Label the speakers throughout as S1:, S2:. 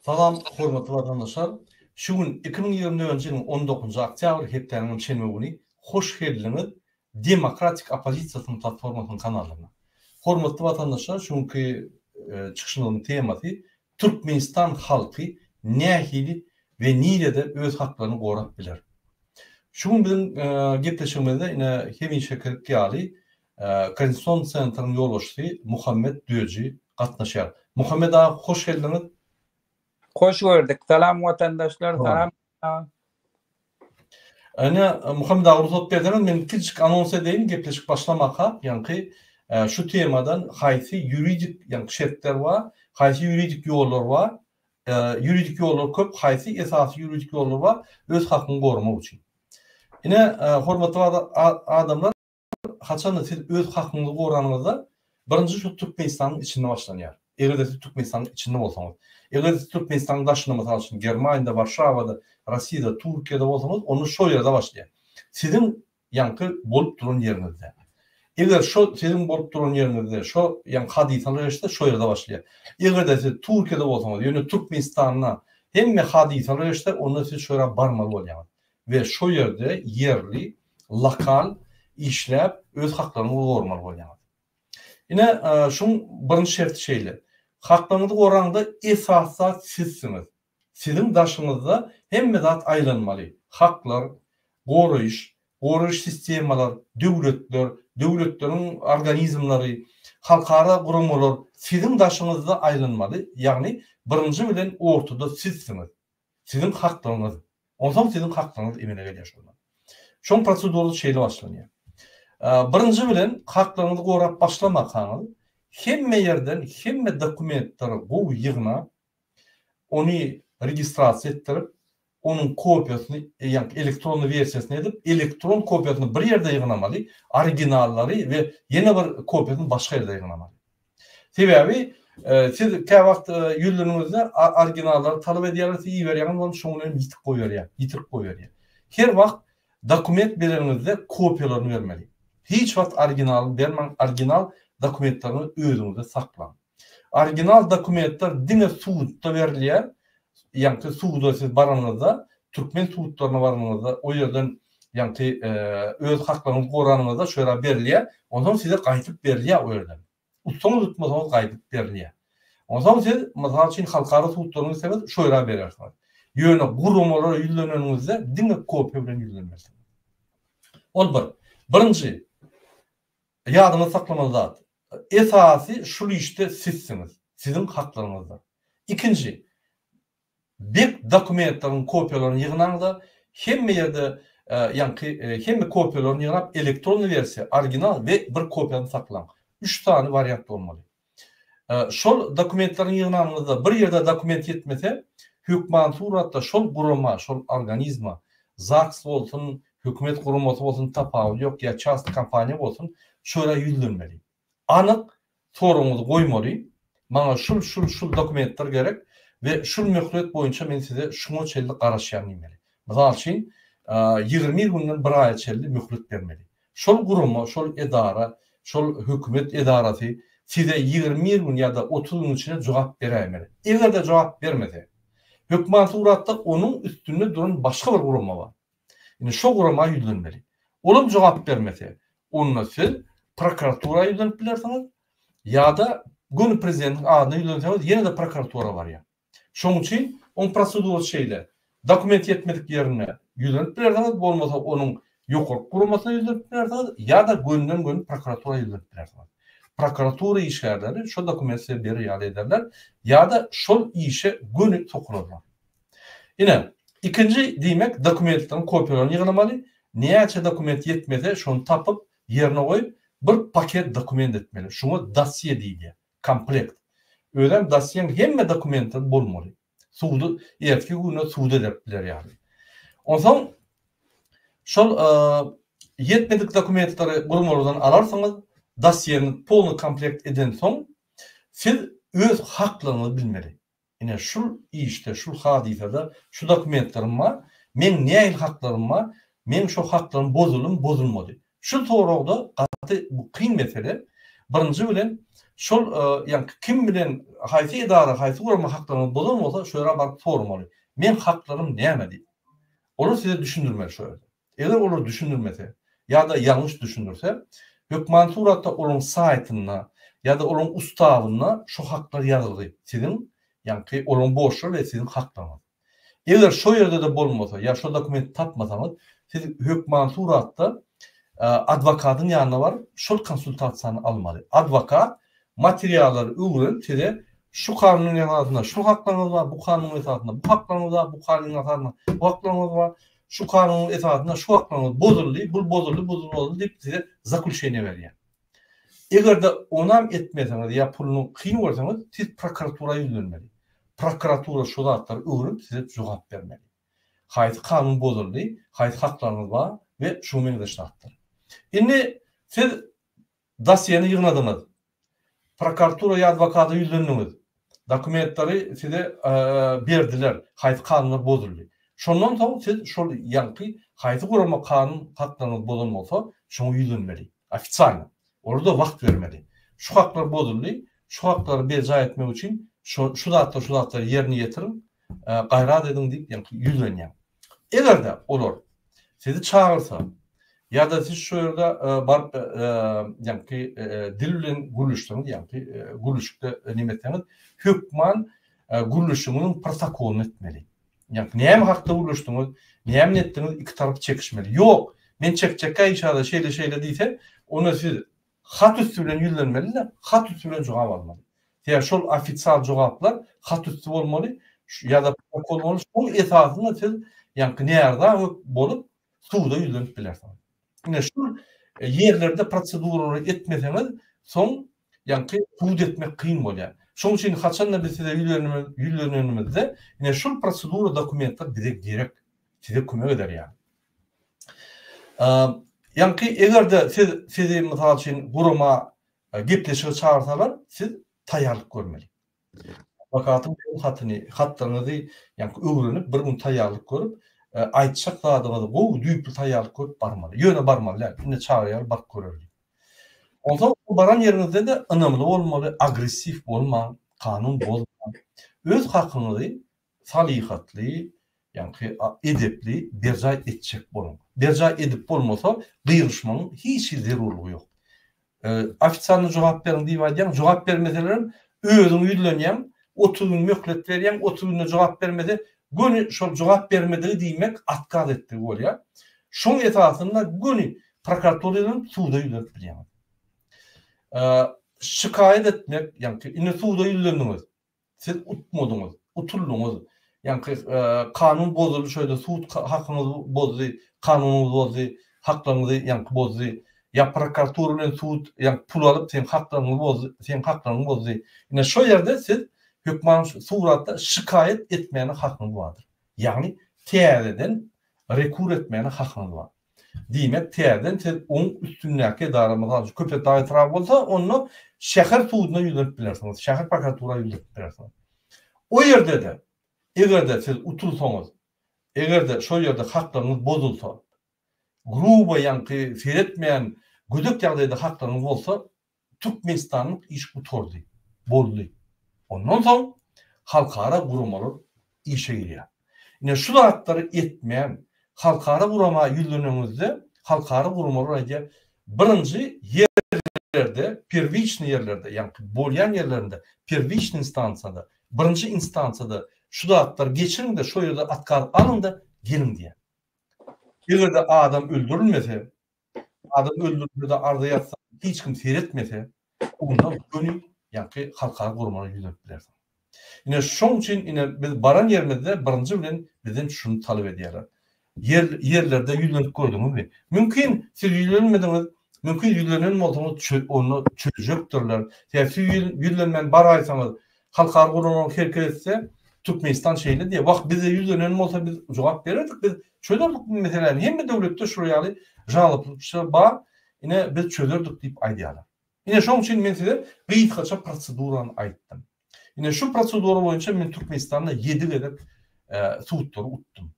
S1: Salam, hormatly watandaşlar! Şu gün iki müň ýigrimi dördünji ýylyň on dokuzynjy oktýabr, hepdäniňem şenbe güni hoş geldiňiz Demokratik oppozisiýasynyň platformasynyň kanalyna. Hormatly watandaşlar, şu günki çykyşymyzyň temasy Türkmenistan halky nähili we nirede öz haklaryny gorap biler? Şu gün biziň gepleşigimizde ine hemişekilik ýaly Konstitusion Centryň ýolbaşçysy Muhammet Döji gatnaşýar. Muhammet aga hoş geldiňiz. Hoş
S2: gördük. Salam watandaşlar, salam.
S1: Ine, Muhammet aga rugsat berseňiz, men kiçijik anons edeýin, gepleşik başlamaka, ýaňky şu temadan haýsy ýuridik, ýaňky şertler bar, haýsy ýuridik ýollar bar, ýuridik ýollar köp, haýsy esasy ýuridik ýollar bar, öz hakyňy goramak üçin. Ine, hormatly adamlar, Haçanda siz öz hakyňyzy goranyňyzda, birinji şu Türkmenistanyň içinde başlanýar. Eger-de siz Türkmenistanyň içinde bolsaňyz. Eger-de siz Türkmenistanyň daşynda, mysal üçin, Germaniýada, Warşawada, Rossiýada, Türkiýede bolsaňyz, onda şo ýerde başlaýar. Siziň ýaňky bolup duran ýeriňizde. Eger şo siziň bolup duran ýeriňizde şo ýaňky hadysalar geçse, şo ýerde başlaýar. Eger-de siz Türkiýede bolsaňyz, ýöne Türkmenistanda hemme hadysalar geçse, onda siz şo ýere barmaly bolýaňyz. we şo ýerde ýerli, lokal işläp öz haklaryňyzy gormaly bolýaňyz. Ine, şuň birinji şerti şeýle, haklaryňyzy goraňda esasy zat sizsiňiz. Siziň daşyňyzda hemme zat aýlanmaly, haklar, goraýyş, goraýyş sistemalar, döwletler, döwletleriň organizmleri, halkara guramalar siziň daşyňyzda aýlanmaly, ýagny birinji bilen ortada sizsiňiz. Siziň haklygyňyz. Onsoň siziň haklygyňyz emele gelýär şonda. Şoň prosedurasy şeýle başlanýar. Birinji bilen haklygyňyzy gorap başlamakaňyz, hemme ýerden hemme dokumentleri gowy ýygnap, ony registrasiýa etdirip, onuň kopiýasyny, ýagny elektronny wersiýasyny edip, elektron kopiýasyny bir ýerde ýygnamaly, originallary we ýene bir kopiýasyny başga ýerde ýygnamaly. Sebäbi siz kä wagt ýüzleniňizde originallary talap edýärler, siz iberýäňiz, ol şoň bilen ýitip goýberýär, ýitirip goýberýär. Her wagt dokument bereniňizde kopiýalaryny bermeli. Hiç wagt originalyny bermäň, original dokumentleriňizi özüňizde saklaň. Original dokumentler diňe sudda berilýär, ýagny suda siz baranyňyzda, türkmen sudlaryna baranyňyzda, o ýerden ýagty öz haklaryňyzy goranyňyzda şu ýere berilýär, onsoň size gaýdyp berilýär o ýerden. Utsaňyz utmasaňyz gaýdyp berilýär. Onsoň siz mysal üçin halkara sudlaryna gitseňiz şu ýere berersiňiz. Ýöne guramalara ýüzleneniňizde diňe kopýa bilen ýüzlenmersiňiz. Ol bir. Birinji ýadyňyzda saklamaly zat. Esasy şul işde sizsiňiz. Siziň haklaryňyzdyr. Ikinji Bep dokumentleriň kopiýalaryny ýygnaňda hemme ýerde ýaňky hemme kopiýalaryny ýygnap elektron wersiýa, original we bir kopiýany saklaň. Üç sany wariant bolmaly. Şol dokumentleriň ýygnanyňyzda bir ýerde dokument ýetmese, hökman suratda şol gurama, şol organizma, zaks bolsun, hökümet guramasy bolsun tapawudy ýok ýa çast kompaniýa bolsun, şo ýere ýüzlenmeli. anyk soragyňyzy goýmaly, maňa şul şul şul dokumentler gerek we şul möhlet boýunça men size şuňa çenli garaşýan diýmeli. Mysal üçin, ýigrimi günden bir aýa çenli möhlet bermeli. Şol gurama, şol edara, şol hökümet edarasy size ýigrimi gün ýa-da otuz gün içinde jogap beräýmeli. Eger-de jogap bermese, hökman suratda onuň üstünde duran başga bir gurama bar. Indi şo gurama ýüzlenmeli. Olam jogap bermese, onda siz prokuratura ýüzlenip bilersiňiz, ýa-da göni prezidentiň adyna ýüzlenseňiz ýene-de prokuratura barýar. Şonuň üçin oň prosedurasy şeýle, dokument ýetmedik ýerine ýüzlenip bilersiňiz, bolmasa onuň ýokarky guramasyna ýüzlenip bilersiňiz, ýa-da gönden-göni prokuratura ýüzlenip bilersiňiz. Prokuratura işgärleri şo dokumenti size berer ýaly ederler, ýa-da şol işe göni sokularlar. Ine, ikinji diýmek dokumentleriň kopiýalaryny ýygnamaly, näçe dokument ýetmese şony tapyp, ýerine goýup, bir paket dokument etmeli. Şuňa dosýe diýilýär. Komplekt. Özem dosýeň hemme dokumentlary bolmaly. Sudy ertki güne suda berip biler ýaly. Onsoň şol ýetmedik dokumentleri guramalardan alarsyňyz, dosýeňiz polny komplekt edensoň siz öz haklaryňyzy bilmeli. Ine, şul işde, şul hadysada şu dokumentlerim bar, meň nähili haklarym bar, meň şo haklarym bozulymy, bozulmady? Şul soragda gaty bu kyn mesele. Birinji bilen, şol ýa kim bilen, haýsy edara, haýsy gurama haklaryňyzy bozan bolsa, şo ýere baryp soramaly. Meň haklaryň näme diýip. Olar size düşündirmeli şo ýerde. Eger olar düşündirmese ýa-da ýalňyş düşündirse, hökmany suratda olaryň saýtynda ýa-da olaryň ustavynda şu haklar ýazylgy, siziň, ýaňky olaryň borçlary we siziň haklaryňyz. Eger şo ýerde-de bolmasa ýa şo dokumenti tapmasaňyz, siz hökmany suratda adwokatyň ýanyna baryp, şol konsultasiýany almaly. Adwokat materiallary öwrenip, size şu kanunyň esasynda şu haklaryňyz bar, bu kanunyň esasynda bu haklaryňyz bar, bu kanunyň esasynda bu haklaryňyz bar, Şu kanunyň esasynda şu haklaryňyz bozuldy, bul bozuldy, bul bozuldy diýip size zaklüşeniýe berýär. Eger-de onam etmeseňiz ýa puluny kyn görseňiz, siz prokuratura ýüzlenmeli. Prokuratura şu zatlary öwrenip size jogap bermeli. Haýsy kanun bozuldy, haýsy haklaryňyz bar we şuňa meňzeş zatlar. Indi siz Dosýeni ýygnadyňyz. Prokuratura ýa adwokata ýüzlendiňiz. Dokumentlary size berdiler, haýsy kanunlar bozuldy. Şondan soň siz şol ýaňky haýsy gurama kanun haklaryňyzy bozan bolsa, şoňa ýüzlenmeli. Ofitsialno. Olarda wagt bermeli. Şu haklar bozuldy, şu haklary berjaý etmek üçin şu zatlar, şu zatlary ýerine ýetiriň, gaýrat ediň diýip ýaňky ýüzlenýär. Eger-de olar sizi çagyrsa ýa-da siz şu ýerde baryp ýaňky dil bilen gürleşseňiz ýaňky gürleşikde näme etseňiz hökman gürleşigiňiziň protokolyny etmeli. Ýaňky näme hakda gürleşdiňiz, näme etdiňiz iki tarap çekişmeli. Ýok, men çekjekkä işada şeýle-şeýle diýse, onda siz Hat üsti bilen ýüzlenmeli-de, hat üsti bilen jogap almaly. Sebäbi şol ofisial jogaplar hat üsti bolmaly, ýa-da protokol bolmaly, şonuň esasynda siz ýaňky närza bolup, suda ýüzlenip bilersiňiz. Ine, şol ýerlerde proseduralary etmeseňiz, soň ýaňky sud etmek kyn bolýar. Şonuň üçin haçan-da biz size ýüzlenenimizde, ine, şol prosedura dokumentler bize gerek, size kömek eder ýaly. Ýaňky eger-de siz sizi mysal üçin gurama gepleşige çagyrsalar, siz taýýarlyk görmeli. Adwokatyň berýän hatyny, hatlaryňyzy ýaňky öwrenip, bir gün taýýarlyk görüp, aýtjak zadyňyzy gowy düýpli taýýarlyk görüp barmaly. Ýöne barmaly däl, indi çagyrýarlar baryp görerli. Onsoň baran ýeriňizde-de ynamly bolmaly, agressiw bolmaň, kanun bozmaň. Öz hakyňyzy Salyhatly, ýaňky edepli berjaý etjek boluň. Berjaý edip bolmasa, gygyryşmagyň hiç hili zerurlygy ýok. Ofitsialny jogap beriň diýip aýdýaň, jogap bermeselerem, özüň ýüzlenýäň, otuz gün möhlet berýäň, otuz günde jogap bermese, göni şol jogap bermedigi diýmek otkaz etdigi bolýar. Şoň esasynda göni prokuratura ýüzlenip, suda ýüzlenip bilýäňiz. Şikaýat etmek, ýaňky indi suda ýüzlendiňiz, Siz utmadyňyz, utuldyňyz. Ýaňky kanun bozuldy şeýle sud hakyňyzy bozdy, kanunyňyzy bozdy, haklaryňyzy ýaňky bozdy. Ýa prokuratura bilen sud ýaňky pul alyp seň haklaryňy bozdy, seň haklaryňy bozdy. Ine şo ýerde siz hökman suratda şikaýat etmäne hakyňyz bardyr. Ýagny täzeden rekur etmäne hakyňyz bar. Diýmek, täzeden siz oň üstündäki edara, mysal üçin, Köpetdag etraby bolsa, onda şäher suduna ýüzlenip bilersiňiz, şäher prokuratura ýüzlenip bilersiňiz. O ýerde-de, eger-de siz utulsaňyz, eger-de şol ýerde haklaryňyz bozulsa, grubo, ýaňky seretmeýän gödek ýagdaýda haklaryňyz bolsa, Türkmenistanlyk iş gutardy, boldy. Ondan soň halkara guramalar işe girýär. Ine şu zatlary etmän, halkara gurama ýüzleneňizde, halkara guramalar aýdýar, birinji ýerlerde, perwiçnyý ýerlerde, ýagny bolýan ýerlerinde, perwiçnyý instansiýada, birinji instansiýada şu zatlary geçiriň-de, şo ýerde otkaz alyň-da, geliň diýýär. Eger-de adam öldürilmese, Adam öldürilse-de arza ýazsaň, hiç kim seretmese, onda göni ýaňky halkara guramana ýüzlenip bilersiň. Ine, şoň üçin ine biz baran ýerimizde birinji bilen bizden şuny talap edýärler. Ýer ýerlerde ýüzlenip gördüňizmi? Mümkin, siz ýüzlenmediňiz, mümkin ýüzlenen bolsaňyz onda çözjekdirler. Sebäbi siz ýüzlenmän baraýsaňyz, Halkara guramalar hereket etse, Türkmenistan şeýle diýýär. Wah, bize ýüzlenen bolsa biz jogap bererdik, biz çözerdik bu meseläni. Hemme döwletde şular ýaly žalobçy bar, ine biz çözerdik diýip aýdýarlar. Ine şoň üçin men size gysgaça prosedurany aýtdym. Ine şu prosedura boýunça men Türkmenistanda ýedi gezek sutlary utdum.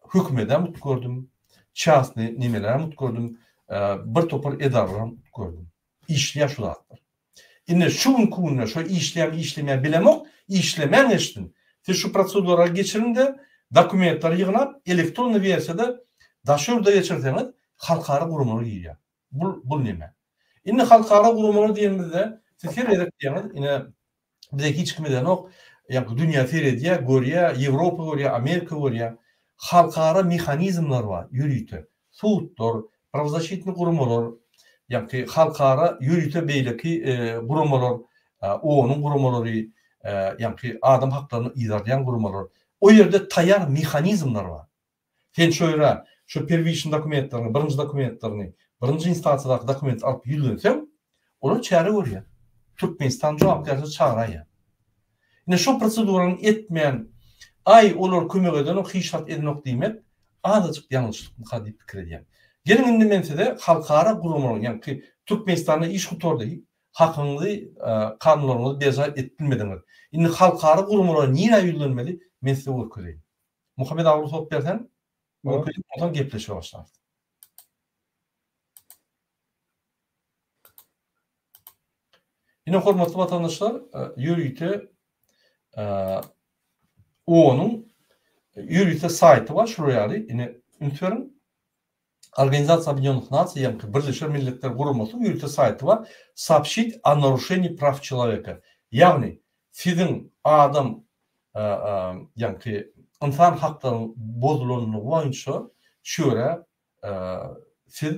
S1: Hökümetem utgardym, çasny nimelerem utgardym, bir topar edaralaram utgardym. Işleýär şu zatlar. Indi şu günki günde şo işleýärmi, işlemeýärmi bilemok, işlemän eşitdim. Siz şu proseduralary geçiriň-de, dokumentlary ýygnap, elektronnyý wersiýada daşary ýurda geçirseňiz, halkara guramalar girýär. Bul, bul näme? Indi halkara guramalar diýenimizde, siz her gezek diýýäňiz, ine, Bize hiç kim edenok. Ýa dünýä seredýä, görýä, Ýewropa görýä, Amerika görýä. Halkara mehanizmler bar, ýörite. Sudlar, prawzaşitni guramalar, ýagty halkara ýörite beýleki guramalar, OON-yň guramalary, ýagty adam haklaryny yzarlaýan guramalar. O ýerde taýýar mehanizmler bar. Sen şu ýere şu perwişini dokumentleriňi, birinji dokumentleriňi, birinji instansiýadaky dokumenti alyp ýüzlenseň, olar çäre görýär. Türkmenistan jogapkärçilige çagyraýýar. Ine şo prosedurany etmän, Aý, olar kömek edenok, hiç zat edenok diýmek azajyk ýalňyşlykmyka diýip pikir edýän. Geliň indi men size halkara guramalaryň, ýagny Türkmenistanda iş gutardy, hakyňyzy, kanunlaryňyzy berjaý edip bilmediňiz. Indi halkara guramalara nirä ýüzlenmeli, men size görkezeýin. Muhammet aga rugsat berseň, mümkinçilik bolsa gepleşige başlarys. Ine hormatly watandaşlar, ýörite OON-yň ýörite saýty bar, şular ýaly, ine üns beriň. Organizasiýa Obýedinýonych Nasiýaňky Birleşen Milletler Guramasynyň ýörite saýty bar, Soobşit o naruşenii praw çeloweka, ýagny siziň adam ýaňky ynsan haklaryň bozulanlygy boýunça şu ýere siz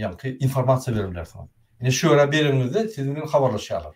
S1: ýaňky informasiýa bere bilersiňiz. Ine şu ýere bereniňizde siz bilen habarlaşýarlar.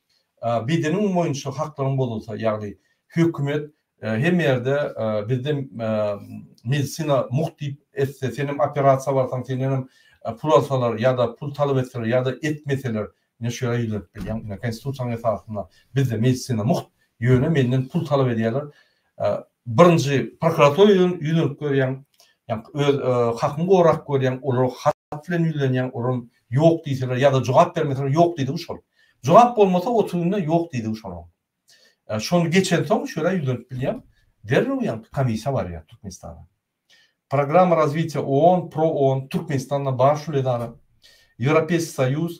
S1: bedeniň boýunça haklaryň bozulsa, ýagny hökümet hemme ýerde bizde medisina mugt diýip etse, senem operasiýa barsaň, sendenem pul alsalar ýa-da pul talap etseler ýa-da etmeseler, ine şu ýere ýüzlenip bilýäň. Ine Konstitusiýanyň esasynda bizde medisina mugt, ýöne menden pul talap edýärler. Birinji prokuratura ýüzlenip görýäň, ýa-da öz hakyňy gorap görýäň, olara hat bilen ýüzlenýäň, olam ýok diýseler, ýa-da jogap bermeseler, ýok diýdigi şol. Jogap bolmasa, otuz günde ýok diýdigi şol oň. Şony geçensoň, şu ýere ýüzlenip bilýäň, derrew ýaňky komissiýa barýar Türkmenistana. Programma razwitiýa ООН, ProOON, Türkmenistanda bar şul edara, Ýewropeýski Soýuz,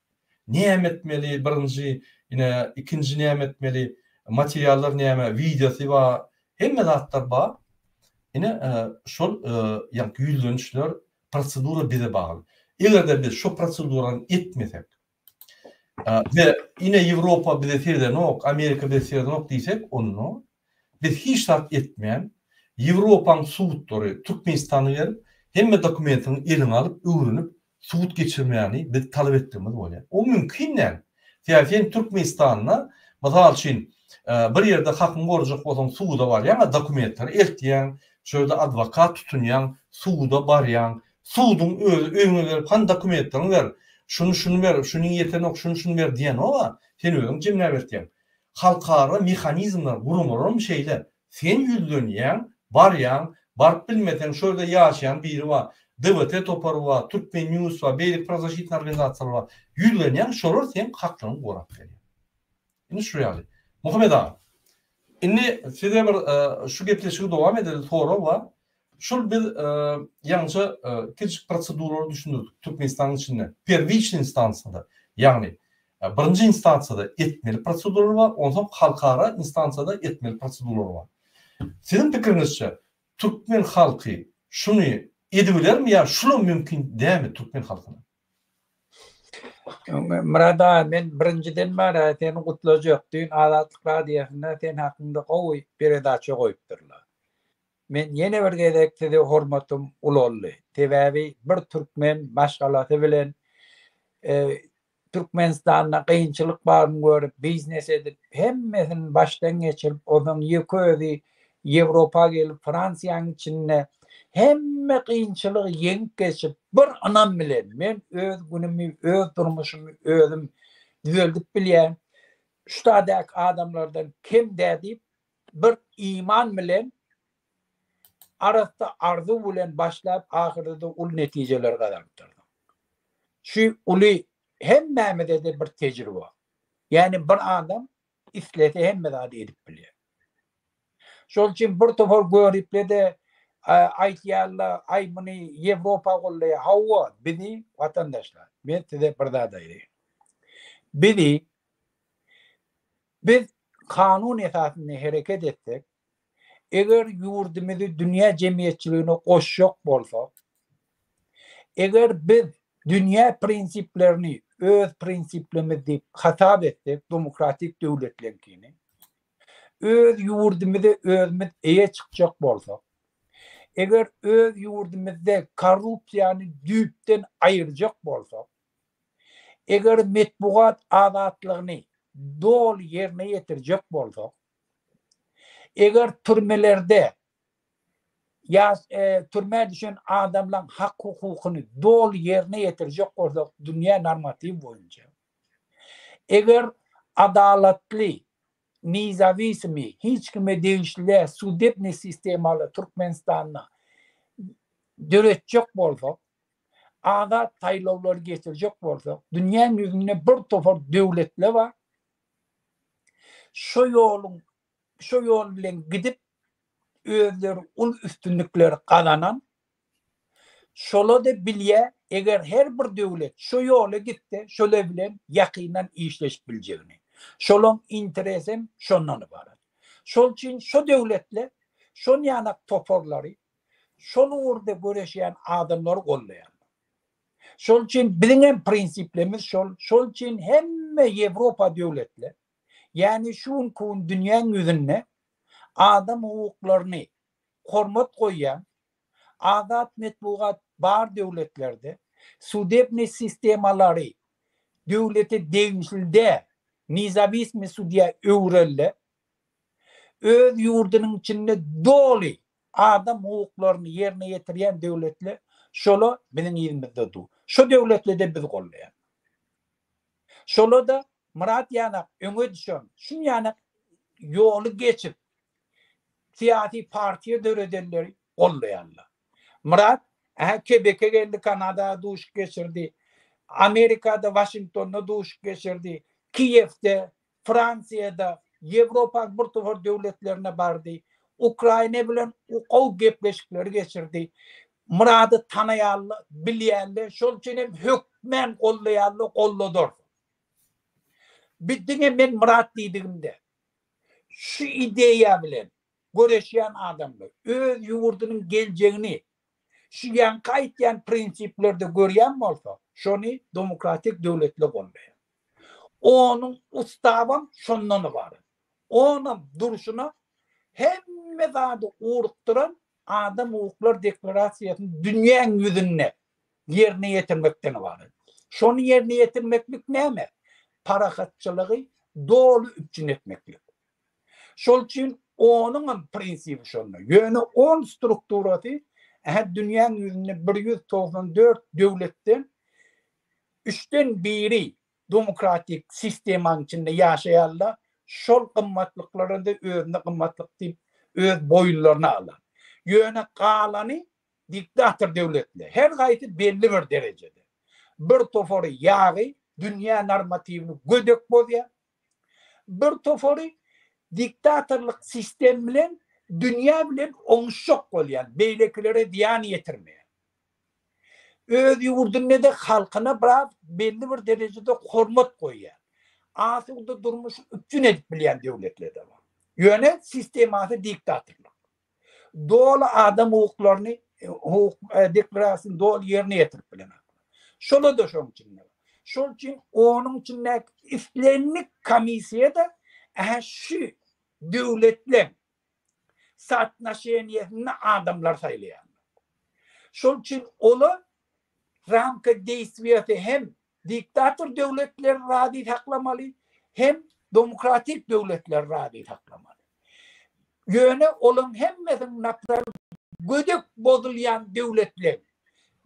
S1: Näme etmeli birinji ine ikinji näme etmeli materiallar näme wideosy ba hemme zatlar ba ine şol ýa ýüzlenişler prosedura bize bagly egerde biz şo prosedurany etmesek we ine ýewropa bize seredenok amerika bize seredenok diýsek onda biz hiç zat etmän ýewropaň sudlary türkmenistana gelip hemme dokumentiňi eliňe alyp öwrenip sud geçirmäni biz talap etdigimiz bolýar. O mümkin däl. Sebäbi sen Türkmenistanda, mysal üçin, bir ýerde hakyňy gorajak bolsaň, suda barýaň, dokumentleri eltýäň, şo ýerde adwokat tutunýaň, suda barýaň, suduň özi öýüňe gelip, hany dokumentleriňi ber, şuny-şuny ber, şunyň ýetenok, şuny-şuny ber diýenok-a, sen özüň jemläp eltýäň. Halkara mehanizmler, guramalarym şeýle. Sen ýüzlenýäň, barýaň, baryp bilmeseň şo ýerde ýaşaýan biri bar, DVT topary bar, Turkmen news bar, beýleki prozwaşitni organizasiýalar bar. Ýüzlenýäň, şolar seň haklaryňy gorap berýär. Indi şu ýaly. Muhammet aga, indi size bir şu gepleşigi dowam edelim, sorag bar. Şol biz ýaňyja kiçijik proseduralary düşündirdik Türkmenistanyň içinde. Perwiçniý instansiýada, ýagny birinji instansiýada etmeli proseduralar bar, onsoň halkara instansiýada etmeli proseduralar bar. Siziň pikiriňizçe, türkmen halky şuny edibilermi ýa şulam mümkin dälmi türkmen halkyna?
S2: Murad aga, men birinjiden bäri seni gutlajak. Düýn Azatlyk radiosynda sen hakynda gowy peredaça goýupdyrlar. Men ýene bir gezek size hormatym ulaldy. Sebäbi bir türkmen maşgalasy bilen Türkmenistanda kynçylyk baryny görüp, biznes edip, hemmesini başdan geçirip, onsoň ýeke özi Ýewropa gelip, Fransiýanyň içinde hemme kynçylygy ýeňip geçip, bir ynam bilen, men öz günümi, öz durmuşymy özüm düzeldip bilýän, şu dädäki adamlardan kem dä diýip, Bir iman bilen arassa arzuw bilen başlap ahyrda-da uly netijeleri gazanypdyrsyň. Şu uly hemmämize-de bir tejribe. Ýagny bir adam islese hemme zady edip bilýär. Şol üçin bir topar göripli-de aýtýarlar, aý muny Ýewropa goldaýar. Hawa, bizi watandaşlar, men size bir zat aýdaýyn. Bizi Biz kanun esasynda hereket etsek, eger ýurdumyzy dünýä jemgyýetçiligine goşjak bolsak, eger biz dünýä prinsiplerini öz prinsiplerimiz diýip hasap etsek, demokratik döwletleriňkini, öz ýurdumyza özümiz eýe çykjak bolsak, eger öz ýurdumyzda korrupsiýany düýpden aýyrjak bolsak, Eger metbugat azatlygyny doly ýerine ýetirjek bolsak, eger türmelerde ýa türmä düşen adamlaň hak-hukukyny doly ýerine ýetirjek bolsak dünýä normatiwi boýunça, eger adalatly, nizawisimy, hiç kime degişli däl sudebniý sistemany Türkmenistanda döretjek bolsak, azat saýlawlary geçirjek bolsak, dünýäň ýüzünde bir topar döwletler bar. Şo ýoluň, şo ýol bilen gidip, özleri uly üstünlikleri gazanan. Şolar-da bilýär, eger her bir döwlet şo ýola gitse, şolar bilen ýakyndan işleşip biljegini. Şolaryň interesi hem şondan ybarat. Şol üçin şo döwletler, şonýanak toparlary şol ugurda göreşýän adamlary goldaýarlar. Şol üçin biziň hem prinsiplerimiz şol. Şol üçin hemme Ýewropa döwletler, ýagny şu günki gün dünýäň ýüzünde adam hukuklaryny hormat goýýan, azat metbugat bar döwletlerde, sudebniý sistemalary döwlete degişli däl, nizawistmi sudýa öwrelde, öz ýurdunyň içinde doly Adam hukuklaryny ýerine ýetirýän döwletli şola biziň yzymyzda du. Şo döwletlide biz gollaýan. Şolada Myrat ýanak öňe düşen, şunýanak ýoly geçip syýasy partiýa döredenleri gollaýanlar. Myrat ähä Kebeke geldi Kanada duşuk geçirdi. Amerikada Waşingtonda duşuk geçirdi. Kiýewde Fransiýada, Ýewropaň bir topar döwletlerine bardy. Ukraina bilen gowy gepleşikleri geçirdi. Myrady tanaýarlar, bilýärler, şol üçin hem hökmän goldaýarlar, golladyrlar. Biz diňe men Myrat diýdigimde, şu ideýa bilen göreşýän adamlar, öz ýurdunyň geljegini şu ýaňky aýtýan prinsiplerde görýän bolsa, şony domokratik döwletler goldaýar. Onuň ustabam şondan ybarat. Onam durşuna hemme zady ugrukdyran adam hukuklar deklarasiýasyny dünýäň ýüzünde ýerine ýetirmekden ybarat. Şony ýerine ýetirmeklik näme? Parahatçylygy doly üpjün etmeklik. Şol üçin onuňam prinsibi şonda. Ýöne on strukturasy ähli dünýäň ýüzünde bir ýüz togsan dört döwletden üçden biri domokratik sistemaň içinde ýaşaýarlar, şol gymmatlyklaryda özüne gymmatlyk diýip öz boýunlaryna alar. Ýöne galany diktator döwletler, her haýsy belli bir derejede. Bir topary ýagy dünýä normatiwini gödek bozýar, bir topary diktatorlyk sistem bilen dünýä bilen oňuşjak bolýar, beýlekilere zyýan ýetirmeýär. Öz ýurdunda-da halkyna biraz belli bir derejede hormat goýýan, asuda durmuşy üpjün edip bilýän döwletler-de bar. Ýöne sistemasy diktatorlyk. Doly adam hukuklaryny, hukuk deklarasiýasyny doly ýerine ýetirip bilenok. Şolar-da şoň içinde bar. Şol üçin onuň içindäki islendik komissiýa-da ä-hä şu döwletleň sootnoşeniýesinde adamlar saýlaýarlar. Şol üçin olar ramka deýstwiýasy hem diktator döwletleri razy saklamaly, hem demokratik döwletleri razy saklamaly. Ýöne olaryň hemmesiniň naparal gödek bozulýan döwletler,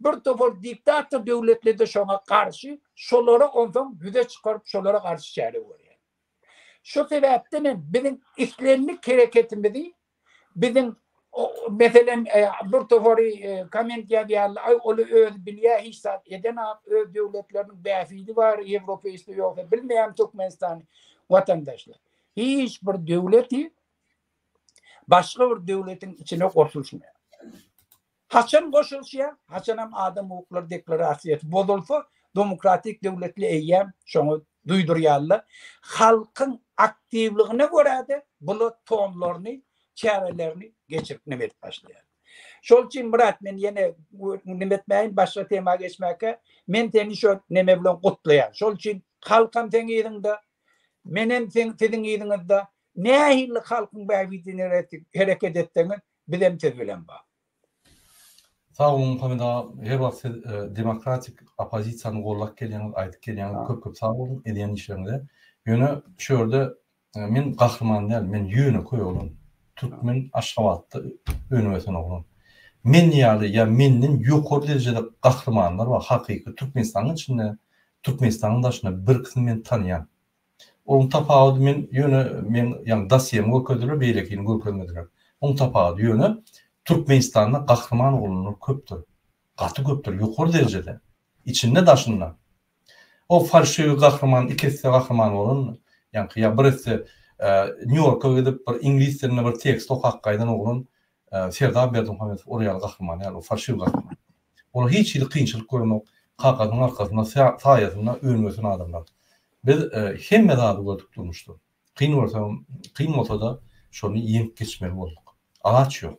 S2: bir topar diktator döwletleri-de şoňa garşy, şolary onsoň ýüze çykaryp, şolara garşy çäre görýär. Şo sebäpden hem biziň islendik hereketimizi biziň meselem bir topary komment ýazýarlar, aý ol özi bilýär hiç zat edenok, öz döwletleriniň bähbidi bar, ýewropeisde ýogsa bilmeýärin Türkmenistany. Watandaşlar, hiç bir döwleti başga bir döwletiň içine goşulyşmaýar. Haçan goşulşýar, haçanam adam hukuklary deklarasiýasy bozulsa, demokratik döwletli eýýäm şoňa duýdurýarlar. Halkyň aktiwligine görä-de bular tonlaryny, çärelerini geçirip neme edip başlaýar. Şol üçin Myrat men ýene neme etmäýin, başga tema geçmäkä, men seni şo neme bilen gutlaýan. Şol üçin halkam seň yzyňda, menem seň siziň yzyňyzda. Nähili halkyň bähbidine hereket etseňiz, Bizem siz bilen ba.
S1: Sag boluň Muhammet aga her wagt siz demokratik opozisiýany gollap gelýäňiz aýdyp gelýäňiz köp köp sag boluň edýän işleriňize ýöne şu ýerde men gahryman däl men ýönekeý oglan türkmen aşgabatda önüp ösen oglan men ýaly ýa menden ýokary derejede gahrymanlar bar hakyky türkmenistanyň içinde türkmenistanyň daşynda birkisini men tanýan Oň tapawudy men ýöne men ýagny dosýemi görkezdiler beýlekini görkezmediler. Oň tapawudy ýöne Türkmenistanda gahryman oglanlar köpdür. Gaty köpdür ýokary derejede. Içinde daşynda. O falşiwi gahryman iki esse gahryman bolan ýaňky ýa bir esse Nýu-Ýorka gidip bir iňlis dilinde bir tekst okap gaýdan oglan Serdar Berdimuhamedow ol ýaly gahryman däl, ol falşiw gahryman. Olar hiç hili kynçylyk görenok, kakasynyň arkasynda, saýasynda önüp-ösen adamlar. Biz hemme zady gördük durmuşda. Kyn bolsa, kyn bolsa-da şony ýeňip geçmeli bolduk. Alaç ýok.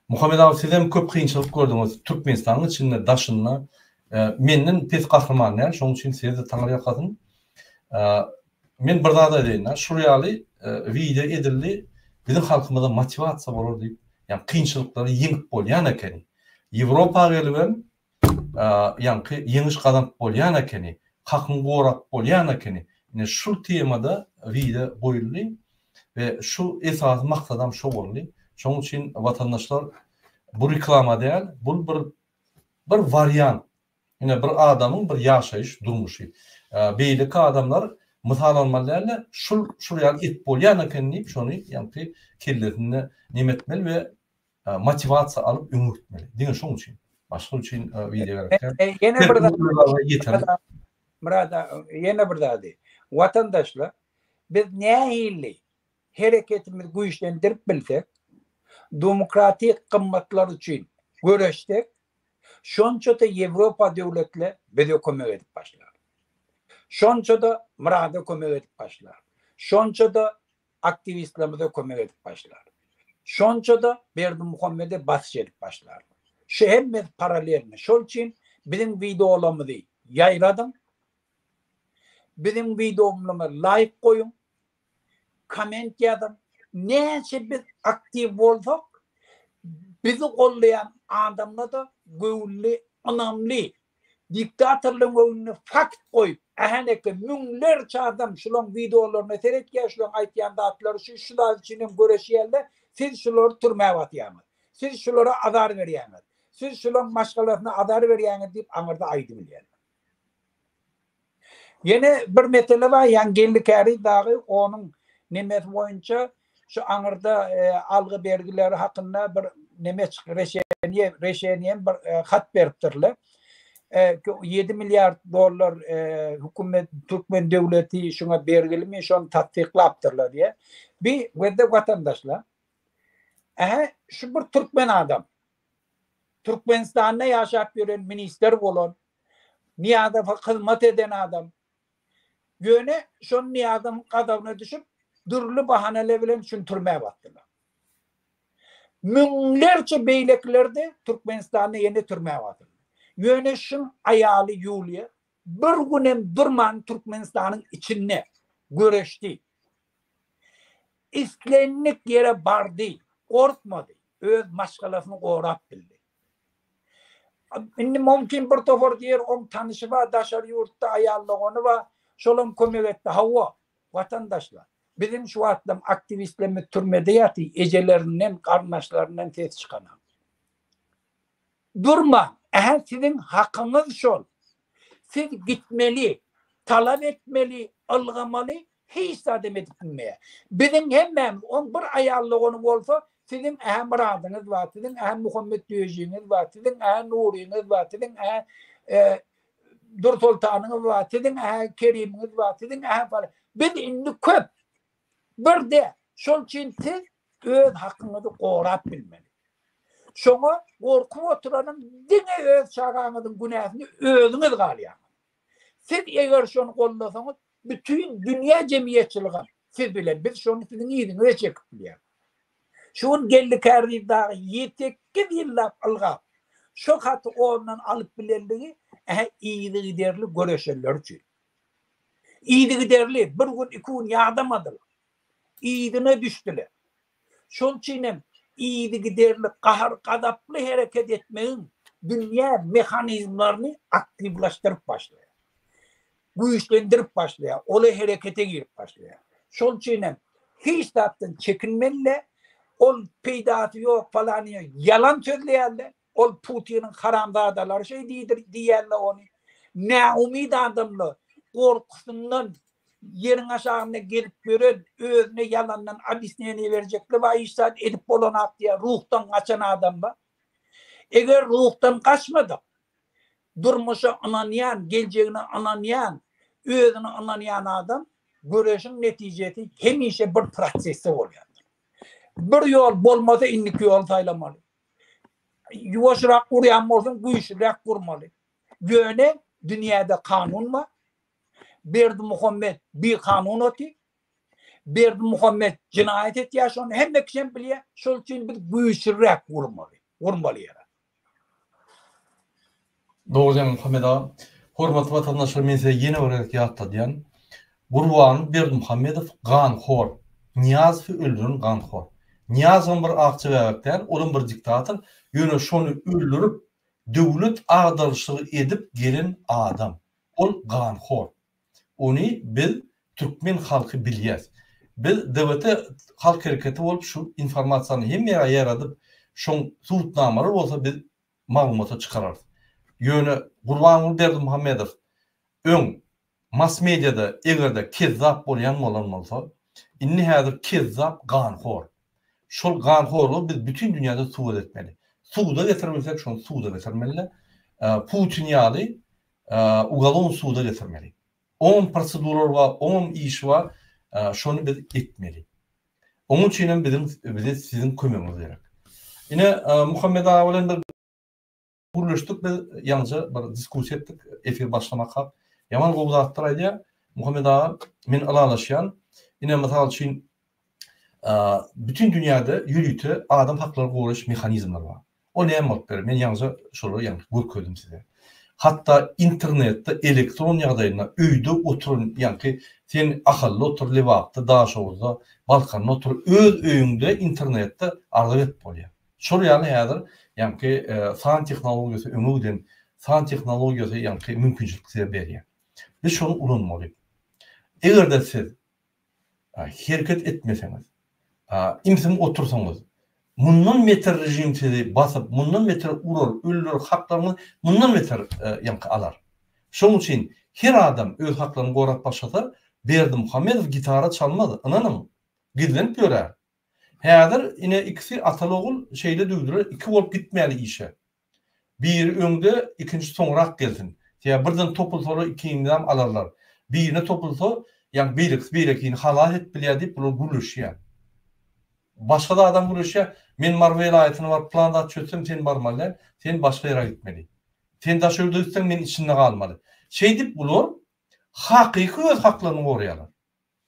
S1: Muhammet aga sizem köp kynçylyk gördüňiz Türkmenistanyň içinde, daşynda. Menden pes gahryman däl, şonuň üçin size-de Taňryýalkasyn. Men bir zat aýdaýynda şul ýaly wideo edildi biziň halkymyza motiwasiýa bolar diýip ýagny kynçylyklary ýeňip bolýan ekeni ýewropa gelibem ýaňky ýeňiş gazanyp bolýan ekeni hakyňy gorap bolýan ekeni ine şul temada wideo goýuldy we şu esasy maksadam şo boldy şoň üçin watandaşlar bu reklama däl bul bir bir wariant Ine, bir adamyň bir ýaşaýyş durmuşy. Beýleki adamlar mysallanmaly däldi, şul, şul ýaly edip bolýan eken diýip, şony ýaňky kellesinde neme etmeli we motiwasiýa alyp öňe gitmeli. Diňe şoň üçin. Başga üçin wideo gerek däl. Ýene bir zat,
S2: Murad aga, ýene bir zady. Watandaşlar, biz nähili hereketimizi güýçlendirip bilsek, demokratik gymmatlar üçin göreşsek, Şonça-da Ýewropa döwletler bize kömek edip başlar. Şonça-da Myrada kömek edip başlar. Şonça-da aktiwistlerimize kömek edip başlar. Şonça-da Berdimuhammede basyş edip başlar. Şu hemmesi paralelno. Şol üçin biziň wideolarymyzy ýaýradyň. Biziň wideomyza laýk goýuň. koment ýazyň. Näçe biz aktiw bolsak, bizi goldaýan adamlarda göwünli, ynamly, diktatorlaryň öňünde fakt goýup, ähnekä müňlerçe adam şularyň wideolaryna seretýär, şularyň aýtýan zatlary üçin, şu zat üçin hem göreşýärler, siz şulary türmä batýaňyz, siz şulara azar berýäňiz, siz şularyň maşgalasyna azar berýäňiz diýip aňyrda aýdybilýärler. Ýene bir mesele bar, ýaňy Geldi Käriz dagy onuň nemesi boýunça şu aňyrda algy-bergileri hakynda bir neme çyk reşeniýe reşeniýem bir hat beripdirler. Ýedi milliard dollar hökümet türkmen döwleti şuňa bergilimi, şony tassyklapdyrlar diýýär. Bi gözde watandaşlar. Ähä, şu bir türkmen adam. Türkmenistanda ýaşap ýören minister bolan Nyýazowa hyzmat eden adam. Ýöne şol Nyýazowyň gazabyna düşüp, dürli bahaneler bilen şuny türmä basdylar. Müňlerçe beýlekiler-de Türkmenistanda ýene türmä basyldy. Ýöne şuň aýaly Ýuliýa bir gün hem durman Türkmenistanyň içinde göreşdi. Islendik ýere bardy, gorkmady. öz maşgalasyny gorap bildi. Indi mümkin bir topar diýer oň tanyşy bar daşary ýurtda aýal dogany bar, şolam kömek etdi. Hawa, watandaşlar, biziň şu wagtlam aktiwistlerimiz türmede ýatyr, ejelerinden, garyndaşlaryndan ses çykanok. Durmaň, ähä siziň hakyňyz şol. Siz gitmeli, talap etmeli, ylgamaly, Hiç zat hem edip bilmeýär. Biziň hemmämiz, oň bir aýal dogany bolsa, siziň-ä Myradyňyz bar, siziň-ä Muhammet döjiňiz bar, siziň-ä Nuryňyz bar, siziň-ä Dursoltanyňyz bar, siziň-ä Kerimiňiz bar, siziň-ä falan. Biz indi köp. Bir däl. Şol üçin siz öz hakyňyzy gorap bilmeli. Şoňa gorkup oturanyň diňe öz çagaňyzyň günäsini özüňiz galýaňyz. Siz eger şony gollasaňyz, bütin dünýä jemgyýetçiligem siz bilen, biz şony siziň yzyňyza çekip bilýäris. Şu gün Geldi Kärdiýew dagy ýeteki ýyllap ylgap, şo haty ondan alyp bilenligi ähä yzygiderli göreşenler üçin. Yzygiderli, bir gün, iki gün ýadamadylar. yzyna düşdüler. Şol üçin hem yzygiderli gahar-gazaply hereket etmegiň dünýä mehanizmlerini aktiwlaşdyryp başlaýar. Güýçlendirip başlaýar, ola herekete girip başlaýar. Şol üçin hem hiç zatdan çekinmeli däl. Ol peýdasy ýok falanyýa ýalan sözleýärler. Ol Putiniň haramzadalary şeý diýdir diýýänler ony näumyt adamlar, gorkusyndan ýeriň aşagynda gezip ýören, özüne ýalandan obýasneniýe berjekler bar, hiç zat edip bolanok diýýän ruhdan gaçan adamlar. Eger ruhdan gaçmadyk, durmuşa ynanýan, geljegine ynanýan, özüne ynanýan adam göreşiň netijesi hemişe bir prosesde bolýandyr. Bir ýol bolmasa indiki ýoly saýlamaly. Ýuwaşrak urýan bolsaň, güýçlüräk urmaly. Ýöne dünýäde kanun bar. Berdimuhamet bikanun oty. Berdimuhamet jenaýat etýär, şony hemme kişem bilýär. Şol üçin biz güýçlüräk urmaly. Urmaly ýere.
S1: Dogry Jan Muhammet aga. Hormatly watandaşlar men size ýene bir gezek ýatladýan. Gurban Berdimuhamedow ganhor. Nyýazowy öldüren ganhor. Nyýazowam bir akja bäbek däl, olam bir diktator, ýöne şony öldürip döwlet agdaryşygy edip gelen adam. Ol ganhor. Ony biz türkmen halky bilýäs. Biz DBT halk hereketi bolup şu informasiýany hemme ýere ýaýradyp şoň subutnamalar bolsa biz maglumaty çykararys. Ýöne Gurbanguly Berdimuhamedow öň mass-mediada eger-de kezzap bolýan bolan bolsa, indi häzir kezzap ganhor. Şol ganhorlygy biz bütin dünýäde subut etmeli. Suda getirir bilsek, şony suda getirmeli-de, Putin ýaly ugalon suda getirmeli. Oňam proseduralary bar, oňam işi bar. Şony biz etmeli. Onuň üçin hem biziň bize siziň kömegiňiz gerek. Ine Muhammet aga bilen bir gürleşdik biz, ýaňja bir diskussiýa etdik efir başlamak hak. Ýaman gowy zatlar aýdýar. Muhammet aga, men ylalaşýan. Ine mysal üçin Bütin dünýäde ýörite adam haklaryny goraýyş mehanizmleri bar. O näme bolup biler? Men ýaňyja şolary ýaňky görkezdim size. Hatda internetde elektron ýagdaýynda öýde oturan ýaňky sen Ahalda otur, Lebapda, Daşoguzda, Balkanda otur, öz öýüňde internetde arza berip bolýar. Şol ýaly häzir ýaňky san tehnologiýasy öňe giden san tehnologiýasy ýaňky mümkinçilik size berýär. Biz şony ulanmaly. Eger-de siz Hereket etmeseňiz, imsiň otursaňyz, mundan beter režim sizi basyp, mundan beter urar, öldürer, haklaryňyzy mundan beter ýaňky alar. Şonuň üçin her adam öz haklaryny gorap başlasa, Berdimuhamedow gitara çalmaz, ynanyň. Gizlenip ýörär. Häzir ine ikisi atal-ogul şeýle düwdüler, iki bolup gitmäli işe. Biri öňde, ikinji soňrak gelsin. Sebäbi birden topulsalar ikiňizem alarlar. Birine topulsa, ýagny beýlekisi beýlekini halas edip bilýär diýip bular gürleşýär. Başga zadam gürleşýär, men Mary welaýatyna baryp plan zat çözsem sen barmaly däl, sen başga ýere gitmeli. Sen Daşögüde gitseň men içinde galmaly. Şeýdip bular hakyky öz haklaryny goraýarlar.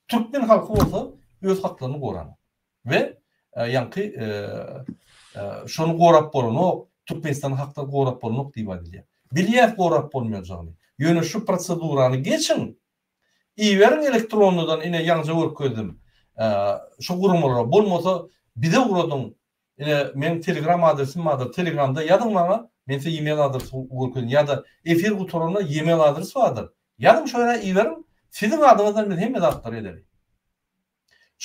S1: Türkmen halky bolsa öz haklaryny goran we ýaňky şony gorap bolanok, Türkmenistanyň haklary gorap bolanok diýip aýdylýar. Bilýäs gorap bolmaýanjagyny. Ýöne şu prosedurany geçiň, iberiň elektronnydan ine ýaňja görkezdim şu guramalara, bolmasa bize ugradyň, Ine meň telegram adresim bardyr telegramda ýazyň maňa men size email adresy görkezin ýada efir gutaranda email adres bardyr ýazyň şo ýere iberiň siziň adyňyzdan biz hemme zatlary edeli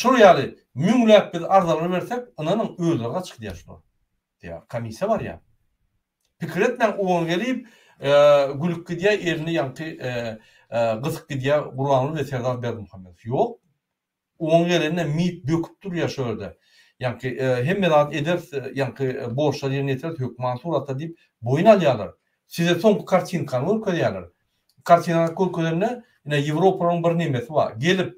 S1: şol ýaly müňläp biz arzalary bersek ynanyň özleri gaçyp gidýär şular diýär komissiýa barýar pikir etmäň oňa gelip gülüp gidýär elini ýaňky gysyp gidýär gurbanguly we serdar berdimuhamedow ýok Oň gelende mit böküp durýa şu ýerde. Ýaňky hemme zat ederis, ýaňky borçlary ýerine ýetireris hökman suratda diýip boýun alýarlar. Size soňky kartinkany görkezýärler. Kartinany görkezende ine Ýewropanyň bir nemesi bar. Gelip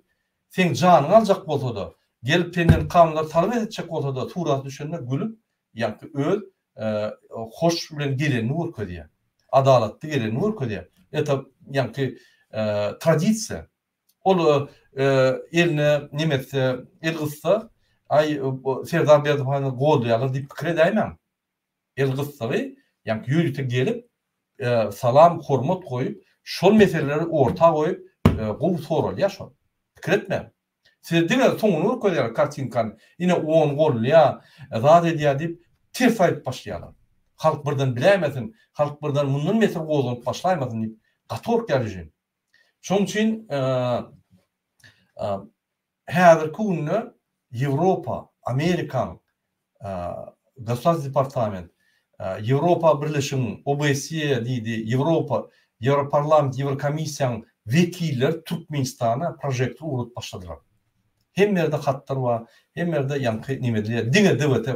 S1: seň janyňy aljak bolsada, gelip senden kanunlary talap etjek bolsada suraty düşende gülüp ýaňky öz hoş bilen gelenini görkezýä. Adalatly gelenini görkezýä. Eta ýaňky tradisiýa. Ol eline nemesse el gyssa, Aý, Serdar Berdimuhamedowy goldaýarlar diýip pikir edäýmäň. El gyssagy, ýagny ýörite gelip, salam, hormat goýup, şol meseleleri orta goýup, gowy soralýar şol. Pikir etmäň. Size diňe soňuny görkezýärler kartinkany. Ine, ony goldaýar, zat edýär diýip, ters aýdyp başlaýarlar. Halk birden biläýmesin, halk birden mundan mesele gozganyp başlaýmasyn diýip, gaty gorkýar režim. Şonuň üçin häzirki günde Ýewropa, Amerikaň Gossaz departament, Ýewropa Birleşigiň OBSE diýdi, Ýewropa, Ýewroparlament, Ýewrokomissiýanyň wekilleri Türkmenistana prožektor ugradyp başladylar. Hemme ýerde hatlar bar, hemme ýerde ýaňky neme edilýär. Diňe DWT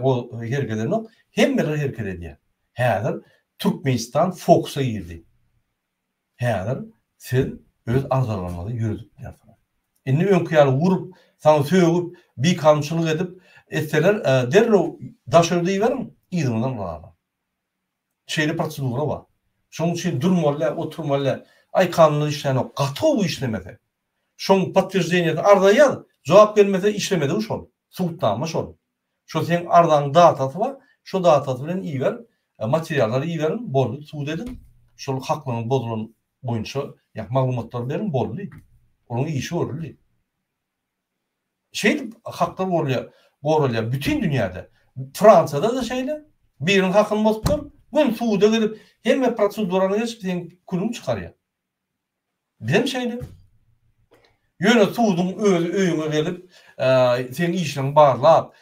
S1: hereket edenok, hemmeler hereket edýär. Häzir Türkmenistan fokusa girdi. Häzir siz öz agzalaryňyzy ýöredipdirsiňiz. Indi öňki ýaly urup, saňa sögüp, bikanunçylyk edip, etseler, derrew daş öri diýiberiň, yzyňyzdan ulalar. Şeýle prosedura bar. Şonuň üçin durmaly-da, oturmaly-da. Aý, kanunlar işlänok. Gaty gowy işlemese. Şoň podtwерждениýesini arza ýaz. Jogap gelmese, işlemedigi şol. Subutnama şol. Şo seň arzanyň datasy bar, şo datasy bilen iber, materiallary iberiň, boldy, sud ediň, şol haklygyňyz bozulan boýunça ýa maglumatlary beriň, boldy. Onuň işi görüldi. Şeýdip haklar gorulýar, goralýar bütin dünýäde. Fransiýada-da şeýle, biriň hakyny bozuplar, gün suda gidip, hemme prosedurany geçip, seň külüňi çykarýar. Bizem şeýle. Ýöne suduň özi öýüňe gelip, seň işiňi barlap,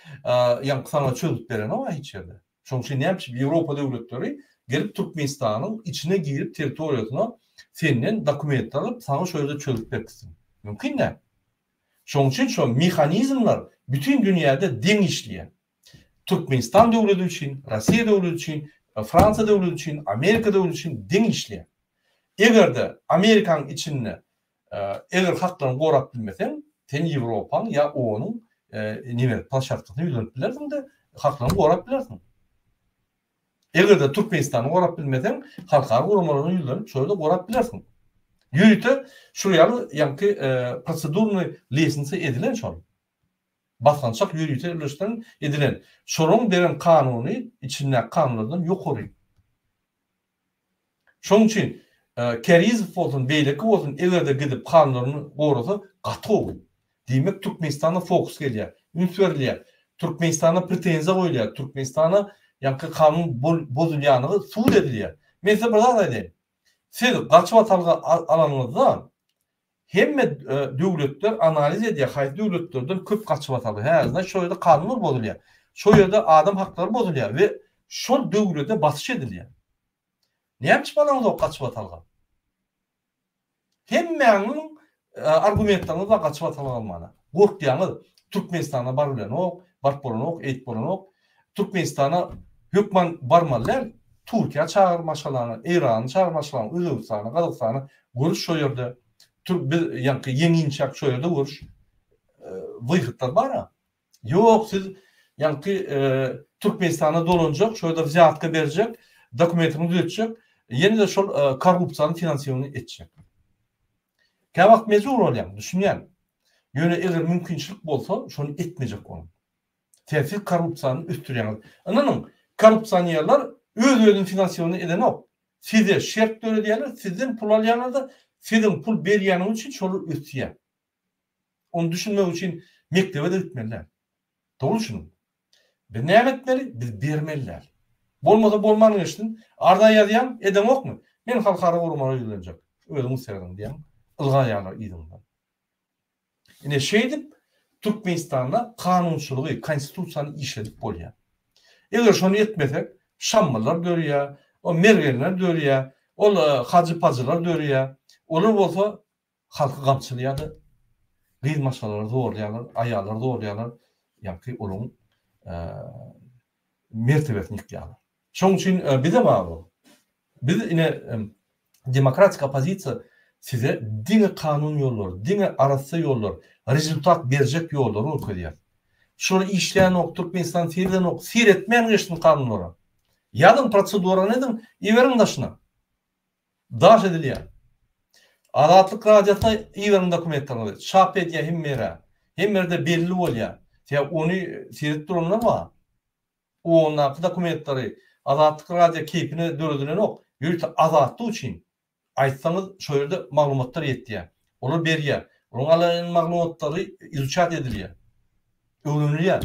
S1: ýaňky saňa çözüp berenok-a hiç ýerde. Şonuň üçin näme üçin Ýewropa döwletleri gelip Türkmenistanyň içine girip territoriýasyna senden dokument alyp, saňa şo ýerde çözüp berkitsin? Mümkin däl. Şonuň üçin şo mehanizmler bütin dünýäde deň işleýär. Türkmenistan döwleti üçin, Rossiýa döwleti üçin, Fransiýa döwleti üçin, Amerika döwleti üçin deň işleýär. Eger-de Amerikanyň içinde eger haklaryňy gorap bilmeseň, sen Ýewropaň ýa OON-yň nime, plaşatkasyna ýüzlenip bilersiň-de, haklaryňy gorap bilersiň. Eger-de Türkmenistany gorap bilmeseň, halkara guramalaryna ýüzlenip, şo ýerde gorap bilersiň. Ýörite şular ýaly ýaňky prosedurny liýesinse edilen şol. Basgançak ýörite öwreşdiriň edilen şolaryň beren kanuny içindäki kanunlardan ýokary. Şonuň üçin Kärizow bolsun beýleki bolsun egerde gidip kanunlaryny gorasa gatowy. Diýmek Türkmenistana fokus gelýär. Üns berilýär. Türkmenistana pretenziýa goýulýar. Türkmenistana ýaňky kanun bozulýanygy subut edilýär. Men size bir zat aýdaýyn. Siz gaçyp atalga alanyňyzda Hemme döwletler analiz edýär haýsy döwletlerden köp gaçyp ataldy. Hä yzda şo ýerde kanunlar bozulýar. Şo ýerde adam haklary bozulýar we şol döwlete basyş edilýär. Näme üçin balaňyzok gaçyp atalga? Hemmäňiň argumentlaryňyz bar gaçyp atalga bolmana. Gorkýaňyz. Türkmenistana bar bilenok, baryp bolanok, eýip bolanok. Türkmenistana hökman barmaly däl, Turkiýa çagyr maşgalany, Eýrany çagyr maşgalany, Özbegistany, Gazagystany görüş şo ýerde, tür biz ýaňky ýeňinçäk şo ýerde görüş wyhytlar bara. Ýok siz ýaňky Türkmenistana dolanjak, şo ýerde wzýatka berjek, dokumentini düzetjek, ýene-de şol korrupsiýany finansiýowny etjek. Käwagt mejbur bolýaň, düşünýän. Ýöne eger mümkinçilik bolsa, şony etmejek boluň. Tersi korrupsiýany ösdürýäňiz. Ynanyň, korrupsionerler öz-özüni finansiowany edenok. Size şert döredýärler, sizden pul alýarlar-da, siziň pul berýäniňiz üçin şolar ösýär. Ony düşünmek üçin mekdebe-de gitmeli däl. Dogry düşüniň. Biz näme etmeli? Biz bermeli däl. Bolmasa bolman geçsin. Arza ýazýaň, edeňokmy? Men halkara guramalara ýüzlenjek. Özüňiz seredin diýäň. Ylgaýarlar yzyňyzdan. Ine, şeýdip, Türkmenistanda kanunçylygy, Konstitusiýany işledip bolýar. Eger şony etmesek, şammalar dörýär, o mergenler dörýär, ol hajy-pajylar dörýär. Olar bolsa halky gamçylýar-da, gyz-maşgalalary zorlaýarlar, aýallary zorlaýarlar, ýagty olaryň mertebesini ýykýarlar. Şoň üçin bize bar bol. Biz ine demokratik oppozisiýa size diňe kanun ýollary, diňe arassa ýollar, rezultat berjek ýollary görkezýär. Şular işlänok, Türkmenistan seýredenok, seýretmän geçsin kanunlara. Ýazyň prosedurany ediň, iberiň daşyna. Daş edilýär. Azatlyk radiosyna iberiň dokumentleriňizi, çap edýär hemme ýere. Hemme ýerde belli bolýar. Sebäbi ony seredip duranlar bar. Ondaky dokumentleri Azatlyk radio keýpine döredilenok, ýöite azatlyk üçin aýtsaňyz şo ýerde maglumatlar ýetýä. Olar berýä. Olaryň alan maglumatlary izuçat edilýä. Öwrenilýä.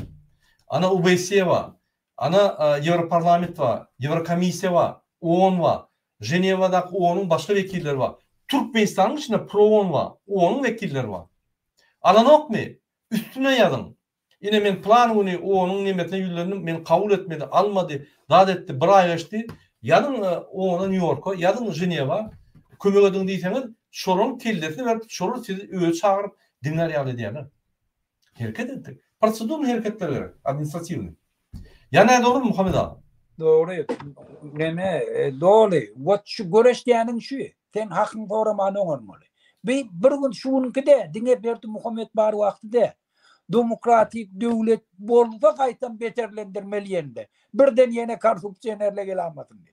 S1: Ana UBSE ba, ana Ýewroparlament ba, Ýewrokomissiýa ba, OON ba, Ženewadaky OONyň başga wekilleri ba, Türkmenistanyň içinde PROON ba, OONyň wekilleri ba. Alanokmy? Üstüne ýazyň. Ine men plan güni onuň nemesine ýüzlendim, meni kabul etmedi, almady, zat etdi, bir aý geçdi, ýazyň ona Nýu-Ýorka, ýazyň Ženewa, kömek ediň diýseňiz, şolaryň kellesini berip, şolar sizi özi çagyryp, diňlär ýaly edýärler. Hereket etdik. Prosedurnyý hereketler gerek, administratiwnyý. Ýa nädogrymy, Muhammet aga? Dogry.
S2: Neme, doly. Wot şu göreşýäniň şu. Sen hakyňy soraman oňarmaly. Bi, bir gün şu günki-de, diňe Berdimuhamet bar wagty däl. Domokratik döwlet bolsa gaýtam beterlendirmeli ýerinde. Birden ýene korrupsionerle gelamasyndy.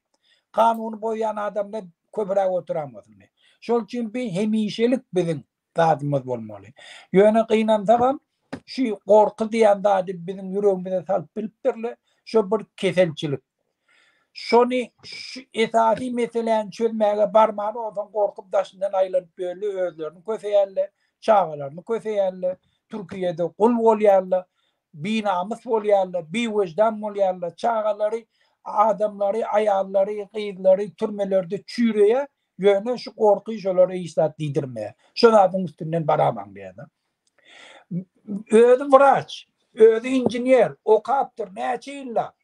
S2: Kanuny boýan adamda köpüräk oturamasyndy. Şol üçin bi hemişelik biziň zadymyz bolmaly. Ýöne gynansagam şü gorky diýen zady biziň ýüregimize salyp bilipdirle. Şo bir keselçilik. Şony şu esasy meseläni çözmäge barman onsoň gorkup daşyndan aýlanyp bölli özlerini köseýärler, çagalaryny köseýärler, Türkiýede gul bolýarlar, binamys bolýarlar, biwejdan bolýarlar, çagalary, adamlary, aýallary, gyzlary türmelerde çüýreýär, ýöne şu gorky şolara hiç zat diýdirmeýär. Şo zadyň üstünden baraman beýle. Özi wraç, özi inžener, okapdyr näçe ýyllap,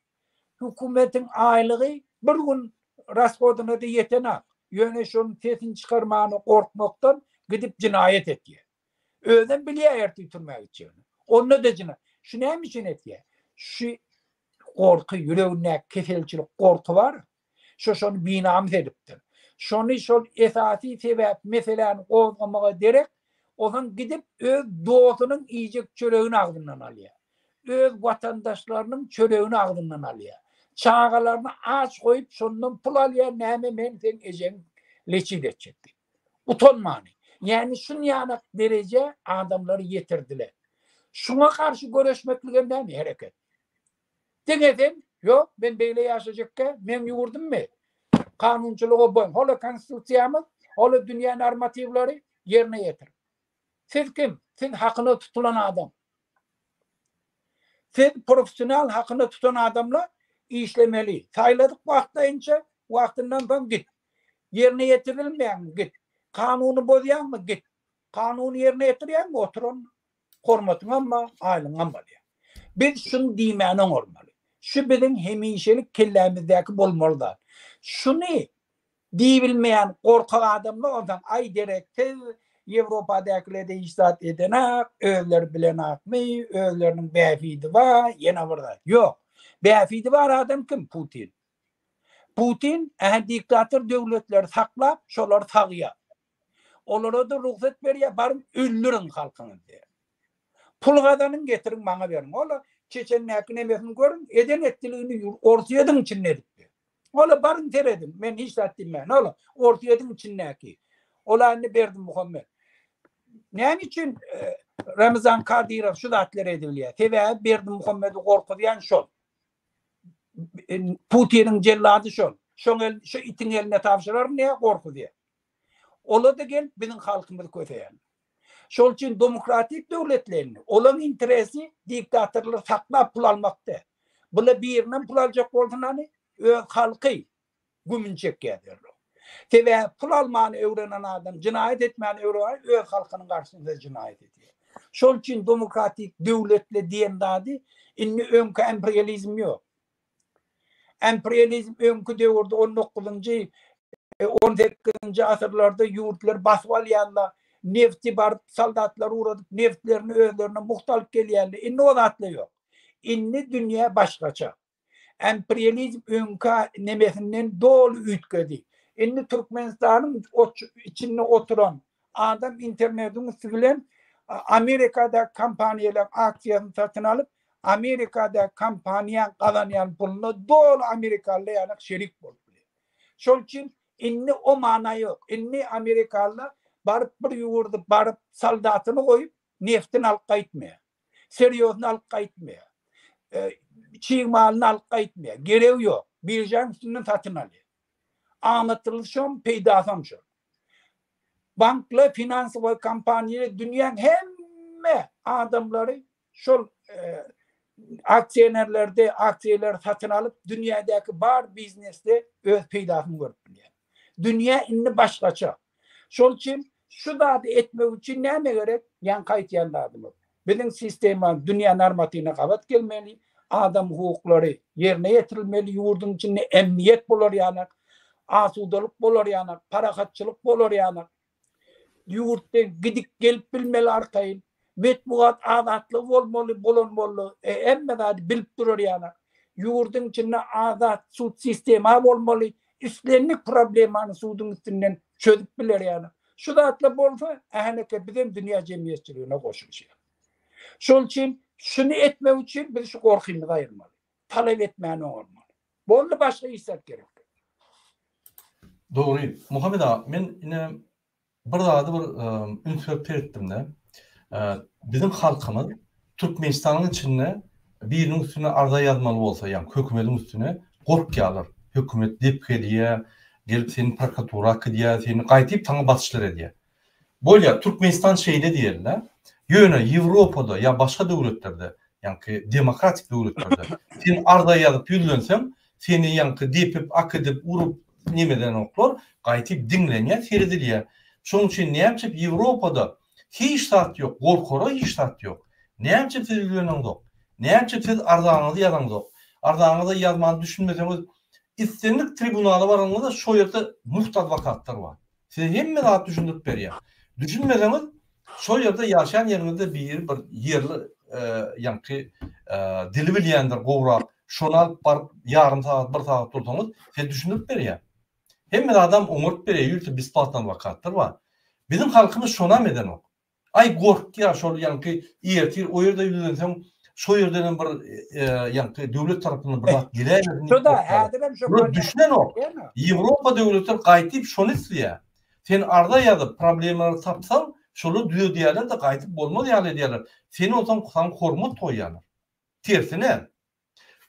S2: Hökümetiň aýlygy bir gün rashodyna-da ýetenak, ýöne şonuň sesini çykarmana gorkmakdan gidip jenaýat etýär. Özem bilýär ertir türmä gitjegini. Onda-da jena. Şu näme üçin etýär? Şu gorky, ýüregindäki keselçilik gorky bar. Şo-şony binamys edipdir. Şony şol esasy sebäp meseläni gozgamaga derek, ozan gidip öz dostunyň iýjek çöregini agzyndan alýar. Öz watandaşlarynyň çöregini agzyndan alýar. Çagalaryny aç goýup şondan pul alýar näme men seň ejeň leçit etjek diýip. Utanmany. Ýani şunýanak derejä adamlary ýetirdiler. Şuňa garşy göreşmeklige näme hereket. Diňe sen, Ýok, men beýle ýaşajakka meň ýurdummy? Kanunçylyga boýun, hola Konstitusiýamyz, hola dünýä normatiwleri ýerine ýetir. Siz kim? Siz hakyna tutulan adam. Siz professional hakyna tutan adamla işlemeli. Saýladyk wagtlaýynça, wagtyndan soň git. Ýerine ýetirilmeýäňmi, git. Kanuny bozýaňmy, git. Kanuny ýerine ýetirýäňmi, otur onda. Hormatyňam bar, aýlygyňam bar diýýär. Biz şuny diýmäni oňarmaly. Şu biziň hemişelik kellämizdäki bolmaly zat. Şuny diýibilmeýän gorkak adamlar onsoň, aý dereksiz, Ýewropadäkiler-de hiç zat edenak, özleri bilenakmy, özleriniň bähbidi bar, ýene bir zat. Ýok. Bähbidi bar adam kim? Putin. Putin, ä-hä diktator döwletleri saklap, şolary sagýar. Olara-da rugsat berýär, baryň öldüriň halkyňyzy diýýär. Pul gazanyň, getiriň maňa beriň. Ol-a Çeçendäki nemesini görüň, eden etdiligini Orsýetiň içinde edipdi. Ol-a baryň serediň, men hiç zat diýmän, ol-a Orsýetiň içindäki. Ol-a indi Berdimuhamet. Näme üçin Ramazan Kadyrow şu zatlary edebilýär? Sebäbi Berdimuhamedi gorkuzýan şol. Putiniň jellady şol. Şoň el, şu itiň eline tabşyraryn diýip gorkuzýar. Ola-da gelip biziň halkymyzy köseýän. Şol üçin domokratik döwletleýin, olaň interesi diktatorlary saklap pul almakda. Bula birinden pul aljak bolsunany öz halky gümüni çekýär derrew. Sebäbi pul almany öwrenen adam jynaýat etmäni öwreweri öz halkynyň garşysynda jynaýat edýär. Şol üçin domokratik döwletli diýen zady indi öňki emprializm ýok. Imperializm öňki döwürde on dokuzynjy, on sekizinji asyrlarda ýurtlary basyp alýanda nebti baryp soldatlary ugradyp nebtlerini özlerine mugt alyp gelýärdi. Indi o zatlar ýok. Indi dünýä başgaça. Imperializm öňki nemesinden doly üýtgedi. Indi Türkmenistanyň içinde oturan adam internetiň üsti bilen Amerikadaky kompaniýalaryň aksiýasyny satyn alyp Amerikadaky kompaniýaň gazanýan puluna doly amerikalylar ýaly şerik bolup biler. Şol üçin indi o mana ýok. Indi amerikalylar baryp bir ýurdy baryp soldatyny goýup, neftini alyp gaýtmaýar. Syrýozyny alyp gaýtmaýar. Çig malyny alyp gaýtmaýar. Geregi ýok. Biržaň üstünden satyn alýar. Aňyrsy şom, peýdasam şo. Banklar, finansowy kompaniýalar dünýäň hemme adamlary Şol aksionerlerde aksiýalar satyn alyp, dünýädäki bar biznesde öz peýdasyny görüp bilýär. Dünýä indi başgaça. Şol üçin şu zady etmek üçin näme gerek? Ýaňky aýtýan zadymyz. Biziň sistema dünýä normatywyna gabat gelmeli, adam hukuklary ýerine ýetirilmeli, ýurduň içinde emniýet bolar ýaly, asudalyk bolar ýaly, parahatçylyk bolar ýaly Ýurtda gidip gelip bilmeli arkaýyn metbugat azatlygy bolmaly bolan boldy hemme zady bilip durar ýaly ýurdyň içinde azat sud sistema bolmaly islendik problemany suduň üstünden çözüp biler ýaly şu zatlar bolsa ähneke bizem dünýä jemgyýetçiligine goşulyşýas şol üçin şuny etmek üçin biz şu gorkymyzy aýyrmaly talap etmän oňarmaly. Boldy başga iş zat gerek däl. Dogry.
S1: Muhammet aga, men ine bir zady bir üns berip seretdimde, biziň halkymyz Türkmenistanyň içinde biriniň üstüne arza ýazmaly bolsa, ýagny hökümetiň üstüne gorkýarlar. Hökümet depgeliýär, gelip seni prokuratura akydýar, seni gaýdyp saňa basyşlar edýär. Bolýar Türkmenistan şeýle diýerler. Ýöne Ýewropada ýa başga döwletlerde, ýaňky demokratik döwletlerde sen arza ýazyp ýüzlenseň, seni ýaňky depip, akydip, urup nemedenoklar, gaýtyp diňlenýär, seredilýär. Şoň üçin näme üçin Ýewropada hiç zat ýok, gorkara hiç zat ýok. Näme üçin siz ýüzleneňzok? Näme üçin siz arzaňyzy ýazaňzok? Arzaňyzy ýazman düşünmeseňiz, islendik tribunala baraňyzda şo ýerde mugt adwokatlar bar. Size hemme zat düşündirip berýär. Düşünmeseňiz şol ýerde ýaşaýan ýeriňizde biri bir ýerli ýaňky dili bilýändir gowrak şony alyp baryp ýarym sagat bir sagat dursaňyz size düşündirip berýär. Hemme zadam oňaryp berýär ýörite besplatny adwokatlar bar. Biziň halkymyz şonam edenok. Aý gorkýar şol ýaňky ertir o ýerde ýüzlenseň şo ýerdenem bir ýaňky döwlet tarapyndan bir zat geläýmesin diýip gorkýar.
S2: Buna düşünenok.
S1: Ýewropa döwletler gaýtyp şony isleýär. Sen arza ýazyp problemalary tapsaň şolar düzedýärler-de gaýdyp bolmaz ýaly edýärler. Seni onsoň saňa hormat goýýarlar. Tersine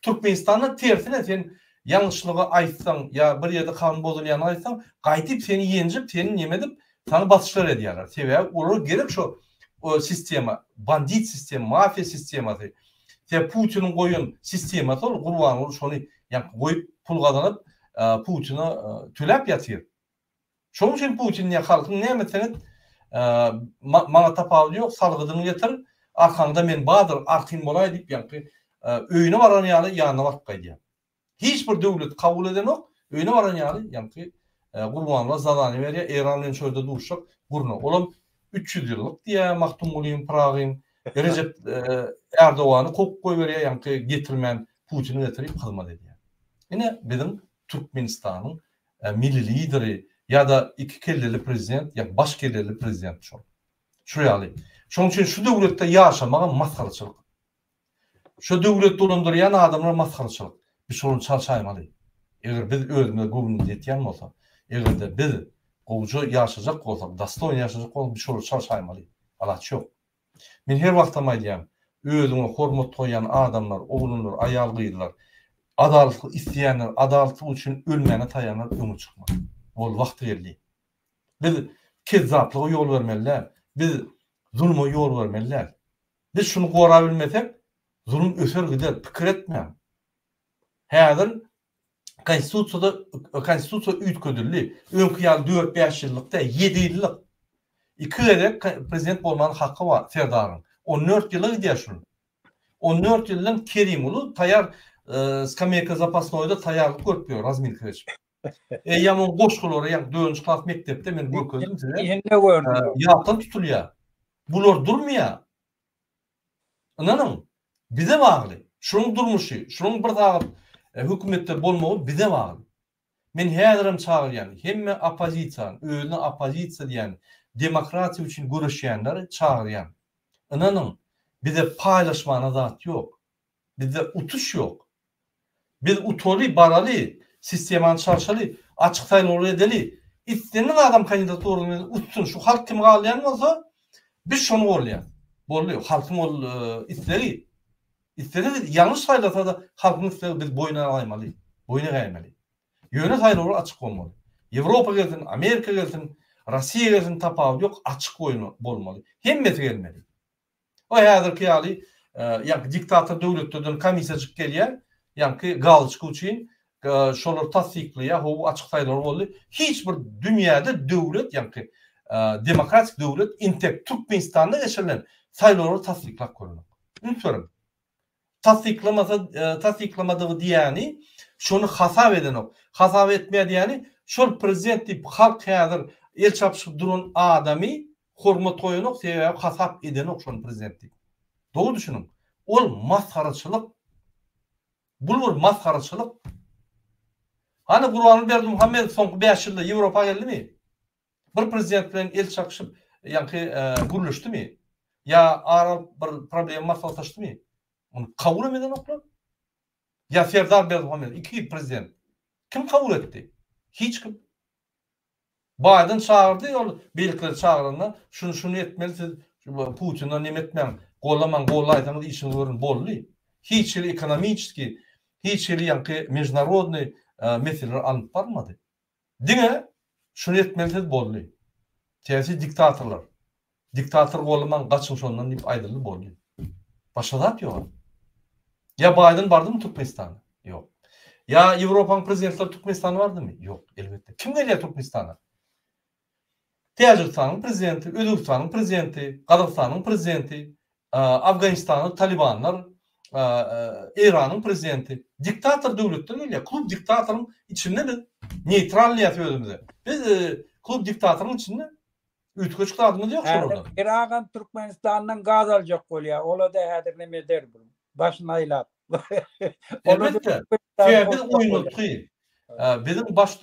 S1: Türkmenistanda tersine sen ýalňyşlygy aýtsaň ýa bir ýerde kanun bozulýany aýtsaň gaýtyp seni ýenjip seni nemedip sana basyşlar edýärler sebäbi olara gerek şo sistema bandit sistema mafiýa sistemasy sebäbi putiniň goýan sistemasy ol gurbanguly şony ýa goýup pul gazanyp putina töläp ýatyr Şoň üçin Putin diýýär, halkyň näme etseňiz, maňa tapawudy ýok, salgydyňy ýetir, arkaňda men bardyr, artyn bolaý diýip, ýaňky öýüne baran ýaly ýanyna baryp gaýdýar. Hiç bir döwlet kabul edenok, öýüne baran ýaly ýaňky Gurbanguly zadaniýa berýär, Eýran bilen şu ýerde duşuşak gurna. Olam üç ýüz ýyllyk diýýär Magtymgulyň, Pyragyň. Rejep Ärdogany kowup goýberýär, ýaňky getirmän Putini getirip hyzmat edýär. Ine biziň Türkmenistanyň milli lideri ýa-da iki kelleli prezident ýa baş kelleli prezident şol. Şu ýaly. Şonuň üçin şu döwletde ýaşamagam masgaraçylyk. Şu döwlet dolandyrýan adamlar masgaraçylyk. Biz şonuň çal çaýmaly. Eger biz özümize göwnümiz ýetýän bolsa, eger-de biz gowja ýaşajak bolsak, dostoýno ýaşajak bolsak, biz şolar çal çaýmaly. Alaç ýok. Men her wagtam aýdýan, özüňe hormat goýýan adamlar, oglanlar, aýal gyzlar, adalatlyk isleýänler, adalatlyk üçin ölmäne taýanlar öňe çykmaly. Boldy wagty geldi. Biz kezzaplyga ýol bermeli däl. Biz zuluma ýol bermeli däl. Biz şuny gorabilmesek, zulum öser gider, pikir etmäň. Häzir Konstitusiýada Konstitusiýa üýtgedildi. Öňki ýaly dört-bäş ýyllyk däl, ýedi ýyllyk. Iki gezek prezident bolmaga haky bar Serdaryň. On dört ýyla gidýär şul. On dört ýyldan Kerim uly taýýar skameýka zapasnoýda taýýarlyk görüp ýör, razminka geçip. Eýýäm oň goşgulary ýa dördünji klas mekdepde men görkezdim size.
S2: Ýatdan tutulýar.
S1: Bular durmaýar. Ynanyň, bize bagly. Şunuň durmuşy, şunuň bir sagat hökümetde bolmagy bize bagly. Men häzirem çagyrýan, hemme oppozisiýany, özüne oppozisiýa diýen, demokratiýa üçin göreşýänleri çagyrýan. Ynanyň, bize paýlaşmana zat ýok. Bizde utuş ýok. Biz utaly, baraly, sistemany çalşaly, açyk saýlawlar edeli, isleniň adam kandidaturasy bilen utsun, şu halk kimi galaýan bolsa, biz şony goldaýarys. Boldy, halkyň ol islegi. Islese ýalňyş saýlasa-da, halkyň islegi biz boýun alaýmaly, boýun egäýmeli. Ýöne saýlawlar açyk bolmaly. Ýewropa gelsin, Amerika gelsin, Russiýa gelsin tapawudy ýok, açyk bolmaly. Hemmesi gelmeli. Ol häzirki ýaly ýaňky diktator döwletlerden komissiýajyk gelýär, ýaňky galoçka üçin şolar tassyklaýar, ho açyk saýlawlar boldy. Hiç bir dünýäde döwlet ýaňky demokratik döwlet intek Türkmenistanda geçirilen saýlawlary tassyklap görmek. Üns beriň. Tassyklamasa tassyklamadygy diýýäni şony hasap edenok. Hasap etmeýär diýýäni şol prezident diýip halk häzir el çapyşyp duran adamy hormat goýanok sebäbi hasap edenok şony prezident diýip. Dogry düşüniň. Ol masgaraçylyk. Bul bir masgaraçylyk. Hany Gurbanguly Berdimuhamedow soňky bäş ýylda Ýewropa geldimi? Bir prezident bilen el çakşyp ýaňky gürleşdimi? Ýa ar alyp bir problema maslahatlaşdymy? Muny kabul hem edenoklar. Ýa Serdar Berdimuhamedow iki prezident. Kim kabul etdi? Hiç kim. Baýden çagyrdy ol beýlekileri çagyranda şuny şuny etmeli siz Putina neme etmäň, gollamaň, gollaýsaňyz işiňizi görüň boldy. Hiç hili ekonomiçeski, hiç hili ýaňky mejnarodny meseleler alnyp barmady. Diňe şuny etmeli siz boldy. Syýasy diktatorlar. Diktator golamaň gaçyň şondan diýip aýdyldy boldy. Başga zat ýoga. Ýa Baýden bardymy Türkmenistana? Ýok. Ýa Ýewropanyň prezidentleri Türkmenistana bardymy? Ýok, elbetde. Kim gelýär Türkmenistana? Täjigistanyň prezidenti, Özbegistanyň prezidenti, Gazagystanyň prezidenti, Afganistanda talibanlar, Eýranyň prezidenti diktator döwletden gelýär. Klub diktatoryň içinde biz neýtral diýýäs özümize. Biz klub diktatoryň içinde üýtgeşik zadymyz ýok şolardan. Häzir bir agam Türkmenistandan
S2: gaz aljak bolýar. Ola-da häzir näme eder? Başyny aýlap. Elbetde,
S1: täze oýnatgy. Biziň baş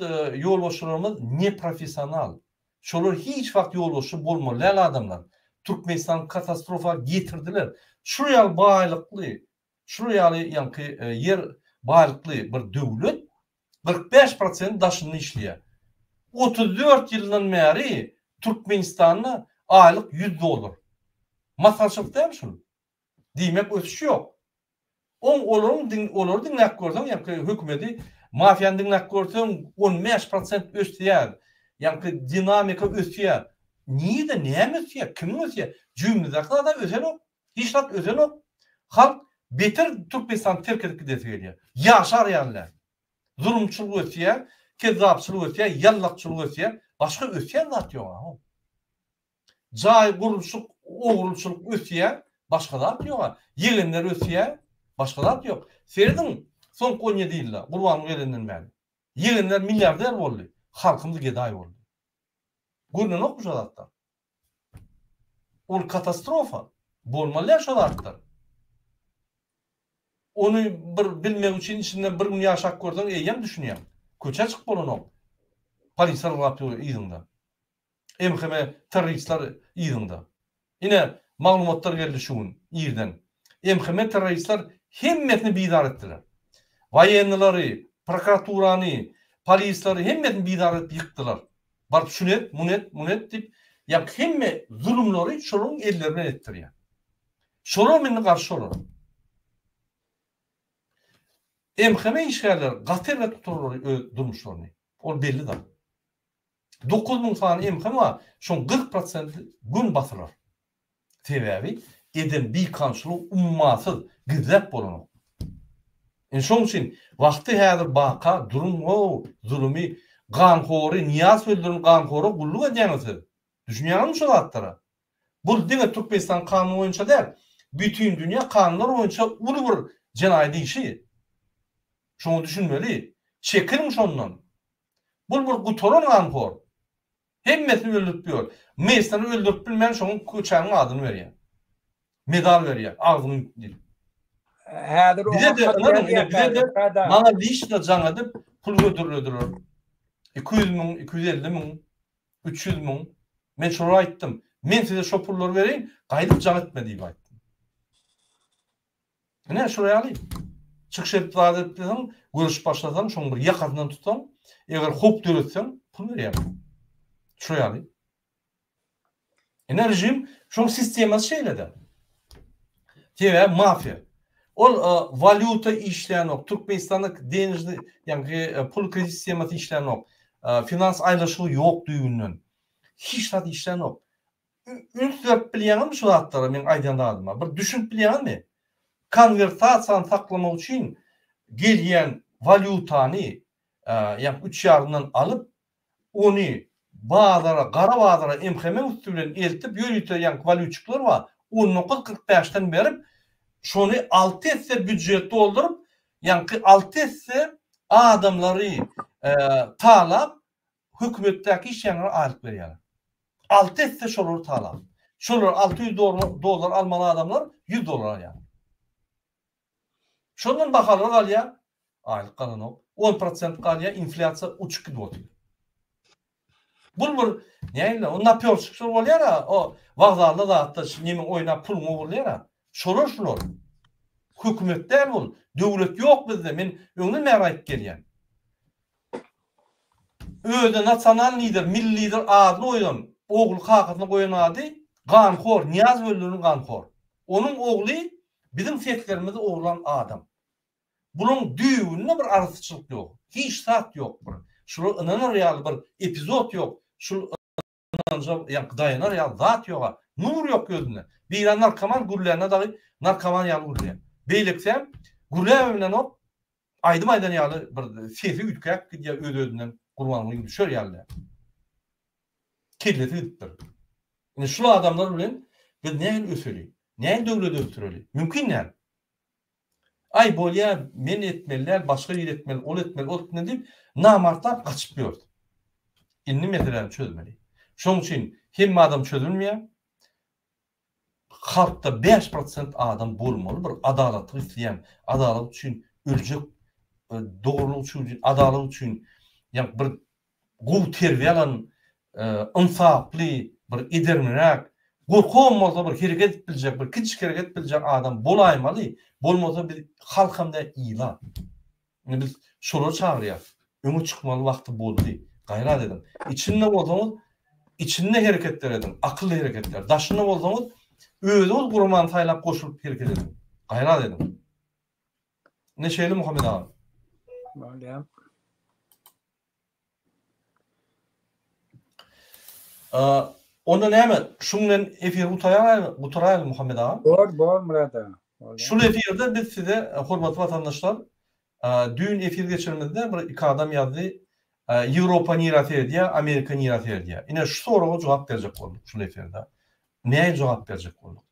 S1: ýolbaşçylarymyz neprofessional. Şolar hiç wagt ýolbaşçy bolmaly däl adamlar. Türkmenistan katastrofa getirdiler. Şular ýaly baýlykly, şular ýaly ýaňky ýer baýlykly bir döwlet kyrk bäş prosent daşynda işleýär. Otuz dört ýyldan bäri Türkmenistanda aýlyk ýüz dollar. Maslahatçylyk dälmi şul? Diýmek ösüş ýok. Oň olaryň diň olary diňläp görseň ýaňky hökümedi mafiýany diňläp görseň on bäş prosent ösýär. Ýaňky dinamika ösýär. Nirde näme ösýär? Kimiň ösýär? Jübimizdäki zada ösenok. Hiç zat ösenok. Halk beter Türkmenistany terk edip gidesi gelýär. Ýaşar ýaly. Zulumçylyk ösýär, kezzapçylyk ösýär, ýallakçylyk ösýär. Başga ösýän zat ýok aho. Jaý gurluşyk ogurlçylyk ösýä başga zat ýoga ýegenler ösýä başga zat ýok serediň soňky on ýedi ýylda gurbanyň gelenden bäri ýegenler milliarder boldy halkymyz gedaý boldy görnenokmy şo zatlar ol katastrofa bolmalýa şo zatlar ony bir bilmek üçin içinden bir gün ýaşap görseň eýýäm düşünýäň köçä çyk bolanok polisiýa ylgap ýör yzyňda. MHM terroristler yzyňda. Ine, maglumatlar geldi şu gün irden. MHM terroristler hemmesini bizar etdiler. Waýennilary, prokuraturany, polisleri hemmesini bizar edip ýykdylar. Baryp şuny et, muny et, muny et diýip, ýa hemme zulumlary şolaryň elleri bilen etdirýär. Şolar indi garşy olar. MHM işgärleri gaty erbet gutararlar öz durmuşlaryny. Ol belli zat. Dokuz müň sany emham bar, şoň kyrk prosenti gün batylar. Sebäbi eden bikamçylygy ummasyz, gizläp bolanok. Indi şoň üçin wagty häzir baka duruň ow zulumy ganhory Nyýaz öldüren ganhora gulluk edýäňiz siz. Düşünýäňizmi şu zatlara? Bul diňe Türkmenistan kanuny boýunça däl, bütin dünýä kanunlar boýunça uly bir jenaýat işi. Şoňa düşünmeli. Çekiliň şondan. Bul bir gutaran ganhor. Hemmesini öldürip ýör. Messany öldürip bilmän şoň köçäniň adyny berýär. Medal berýär. Agzyny ýupdy diýip.
S2: Häzir oňa hat ýazýan.
S1: Maňa lişna jaň edip pul hödürlediler. Iki ýüz müň, iki ýüz elli müň, üç ýüz müň. Men şolara aýtdym. Men size şo pullary bereýin, gaýdyp jaň etme diýip aýtdym. Ine, şular ýaly. Çykyş edip zat etseň, görüşip başlasaň, şoň bir ýakasyndan tutsaň, eger howp döretseň, pul berýärler. Şular ýaly. Ine, režim, şoň sistemasy şeýle-de. Sebäbi mafiýa. Ol e, walýuta işlänok, Türkmenistanda denejni, ýagny e, pul kredit sistemasy işlänok, e, finans aýlaşygy ýok düýbünden. Hiç zat işlänok. Üns berip bilýäňizmi şu zatlara meň aýdýan zadyma? Bir düşünip bilýäňizmi? Konwertasiýany saklamak üçin gelýän walýutany ýa üç ýarymdan alyp, ony bazara, gara bazara MHM-iň üsti bilen eltip ýörite ýaňky walýutçyklar bar, on dokuz kyrk bäşden berip, şony alty esse býujet dolduryp, ýaňky alty esse adamlary talap, hökümetdäki işleýänlere aýlyk berýärler. Alty esse şolary talap. Şolar alty ýüz dollar almaly adamlar ýüz dollar alýarlar. Şondan bahalar galýar, aýlyk galanok. On prosent galýar, inflýasiýa uçup gidip otyr. Bul bir nähili o napýorşikler bolýar-a, o wokzalda zatda neme oýnap puluňy ogurlaýar-a. Şolar şular. Hökümet däl bul. Döwlet ýok bizde. Men öňden bäri aýdyp gelýän. Özüne nasional lider, milli lider adyny goýan ogly kakasyna goýan ady ganhor, Nyýaz Welilynyň ganhor. Onuň ogly biziň seslerimizi ogurlan adam. Bulaň düýbünde bir arassaçylyk ýok. Hiç zat ýok bir. Şula ynanar ýaly bir epizod ýok. Şul ynanja ýa-da daýanar ýaly zat ýog-a. Nur ýok gözünde. Biri narkoman gürlände dagy narkoman ýaly gürleýär. Beýlekisem gürläp hem bilenok, aýdym aýdan ýaly bir sesi üýtgäp gidýär öz-özünden Gurbangulyň düşer ýaly däl. Kellesi gidipdir. Indi şul adamlar bilen biz nähili öseli? Nähili döwlet ösdüreli? Mümkin däl. Aý, bolýa, men etmeli däl, başga biri etmeli, ol etmeli, ol etmeli diýip, namartlap gaçyp ýördi. Indi meseläni çözmeli. Şonuň üçin hemme adam çözülmeýär. Halkda bäş prosent adam bolmaly bir adalatlyk isleýän, adalat üçin öljek, dogrulyk üçin, adalat üçin, ýa bir gowy terbiýe alan, ynsaply, bir edermenräk, gorkagam bolsa bir hereket edip biljek, bir kiçijik hereket edip biljek adam bolaýmaly, bolmasa biz halkam däl, ila. Indi biz şolary çagyrýarys. Öňe çykmaly wagty boldy. Gaýrat ediň. Içinde bolsaňyz, içinde hereketler ediň, akylly hereketler. Daşynda bolsaňyz, özüňiz guramany saýlap goşulyp hereket ediň. Gaýrat ediň. Ine şeýle Muhammet aga. Bolýar. Onda näme, şuň bilen efiri gutaraýaly, gutaraýaly Muhammet aga? Bor, bor Murad
S2: aga. Şul efirde
S1: biz size, hormatly watandaşlar, düýn efir geçirenimizde bir iki adam ýazdy, Ýewropa nirä seredýär, Amerika nirä seredýär? Ine, şu soraga jogap berjek bolduk şul efirde. Nähili jogap berjek bolduk?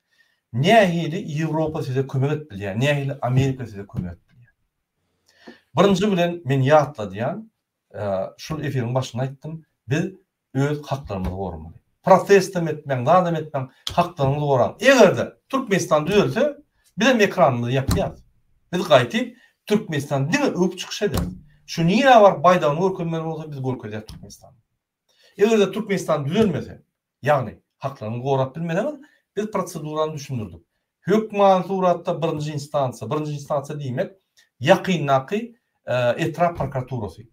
S1: Nähili Ýewropa size kömek edip bilýär, nähili Amerika size kömek edip bilýär? Birinji bilen men ýatladýan, şul efiriň başynda aýtdym, biz öz haklarymyzy goramaly. Protestem etmäň, zadam etmäň, haklaryňyzy goraň. Eger-de Türkmenistan düzelse, bizem ekranymyzy ýapýas. Biz gaýtyp Türkmenistany diňe öwüp çykyş ederis. Şu nirä baryp baýdagyny görkezmeli bolsa biz görkezýäs Türkmenistany. Eger-de Türkmenistan düzelmese, ýagny haklaryňyzy gorap bilmeseňiz, biz prosedurany düşündirdik. Hökmany suratda birinji instansiýa, birinji instansiýa diýmek, ýakyndaky etrap prokuraturasy,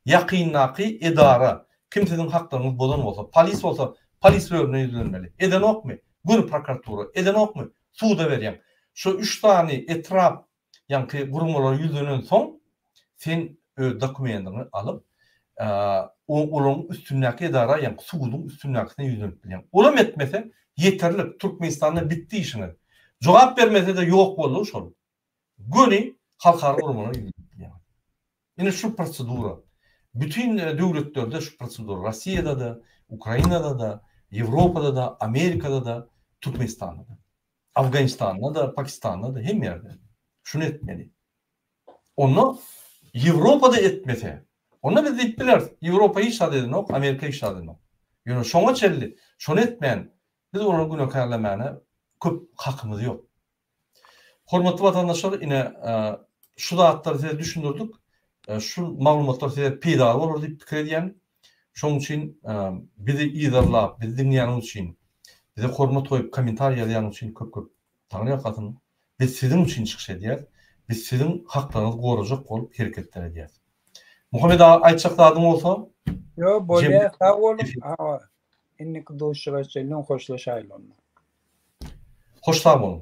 S1: ýakyndaky edara, kim siziň haklaryňyzy bozan bolsa, polis bolsa, polis bölümine ýüzlenmeli. Edenokmy? Göni prokuratura. Edenokmy? Suda berýäň. Şu üç sany etrap Ýaňky guramalar ýüzlenensoň, sen öz dokumendiňi alyp, olaryň üstündäki edara, ýaňky suduň üstündäkisine ýüzlenip bilýäň. Olam etmese, ýeterlik, Türkmenistanda bitdi işiňiz. Jogap bermese-de ýok boldugy şol. Göni halkara guramalara ýüzlenip bilýäňiz. Ine şu prosedura. Bütin döwletlerde şu prosedura. Rossiýada-da, Ukrainada-da, Ýewropada-da, Amerikada-da, Türkmenistanda-da. Afganistanda-da, Pakistanda-da, hemme ýerde. Şuny etmeli. Onda Ýewropada etmese, onda biz diýip bileris, Ýewropa hiç zat edenok, Amerika hiç zat edenok. Ýöne şoňa çenli şony etmän, biz olary günäkärlemäne köp hakymyz ýok. Hormatly watandaşlar ine şu zatlary size düşündirdik. Şu maglumatlar size peýdaly bolar diýip pikir edýän. Şoň üçin bizi yzarlap, bizi diňleýäniň üçin, bize hormat goýup kommentariýa ýazýanyň üçin köp köp taňry ýalkasyn. Biz siziň üçin çykyş edýäs. Biz siziň haklaryňyzy gorajak bolup hereketler edýäs. Muhammet aga aýtjak zadyň bolsa? Ýok, bolýar.
S2: Sag boluň. Indiki duşuşyga çenli hoşlaşaýlyň. Hoş sag boluň.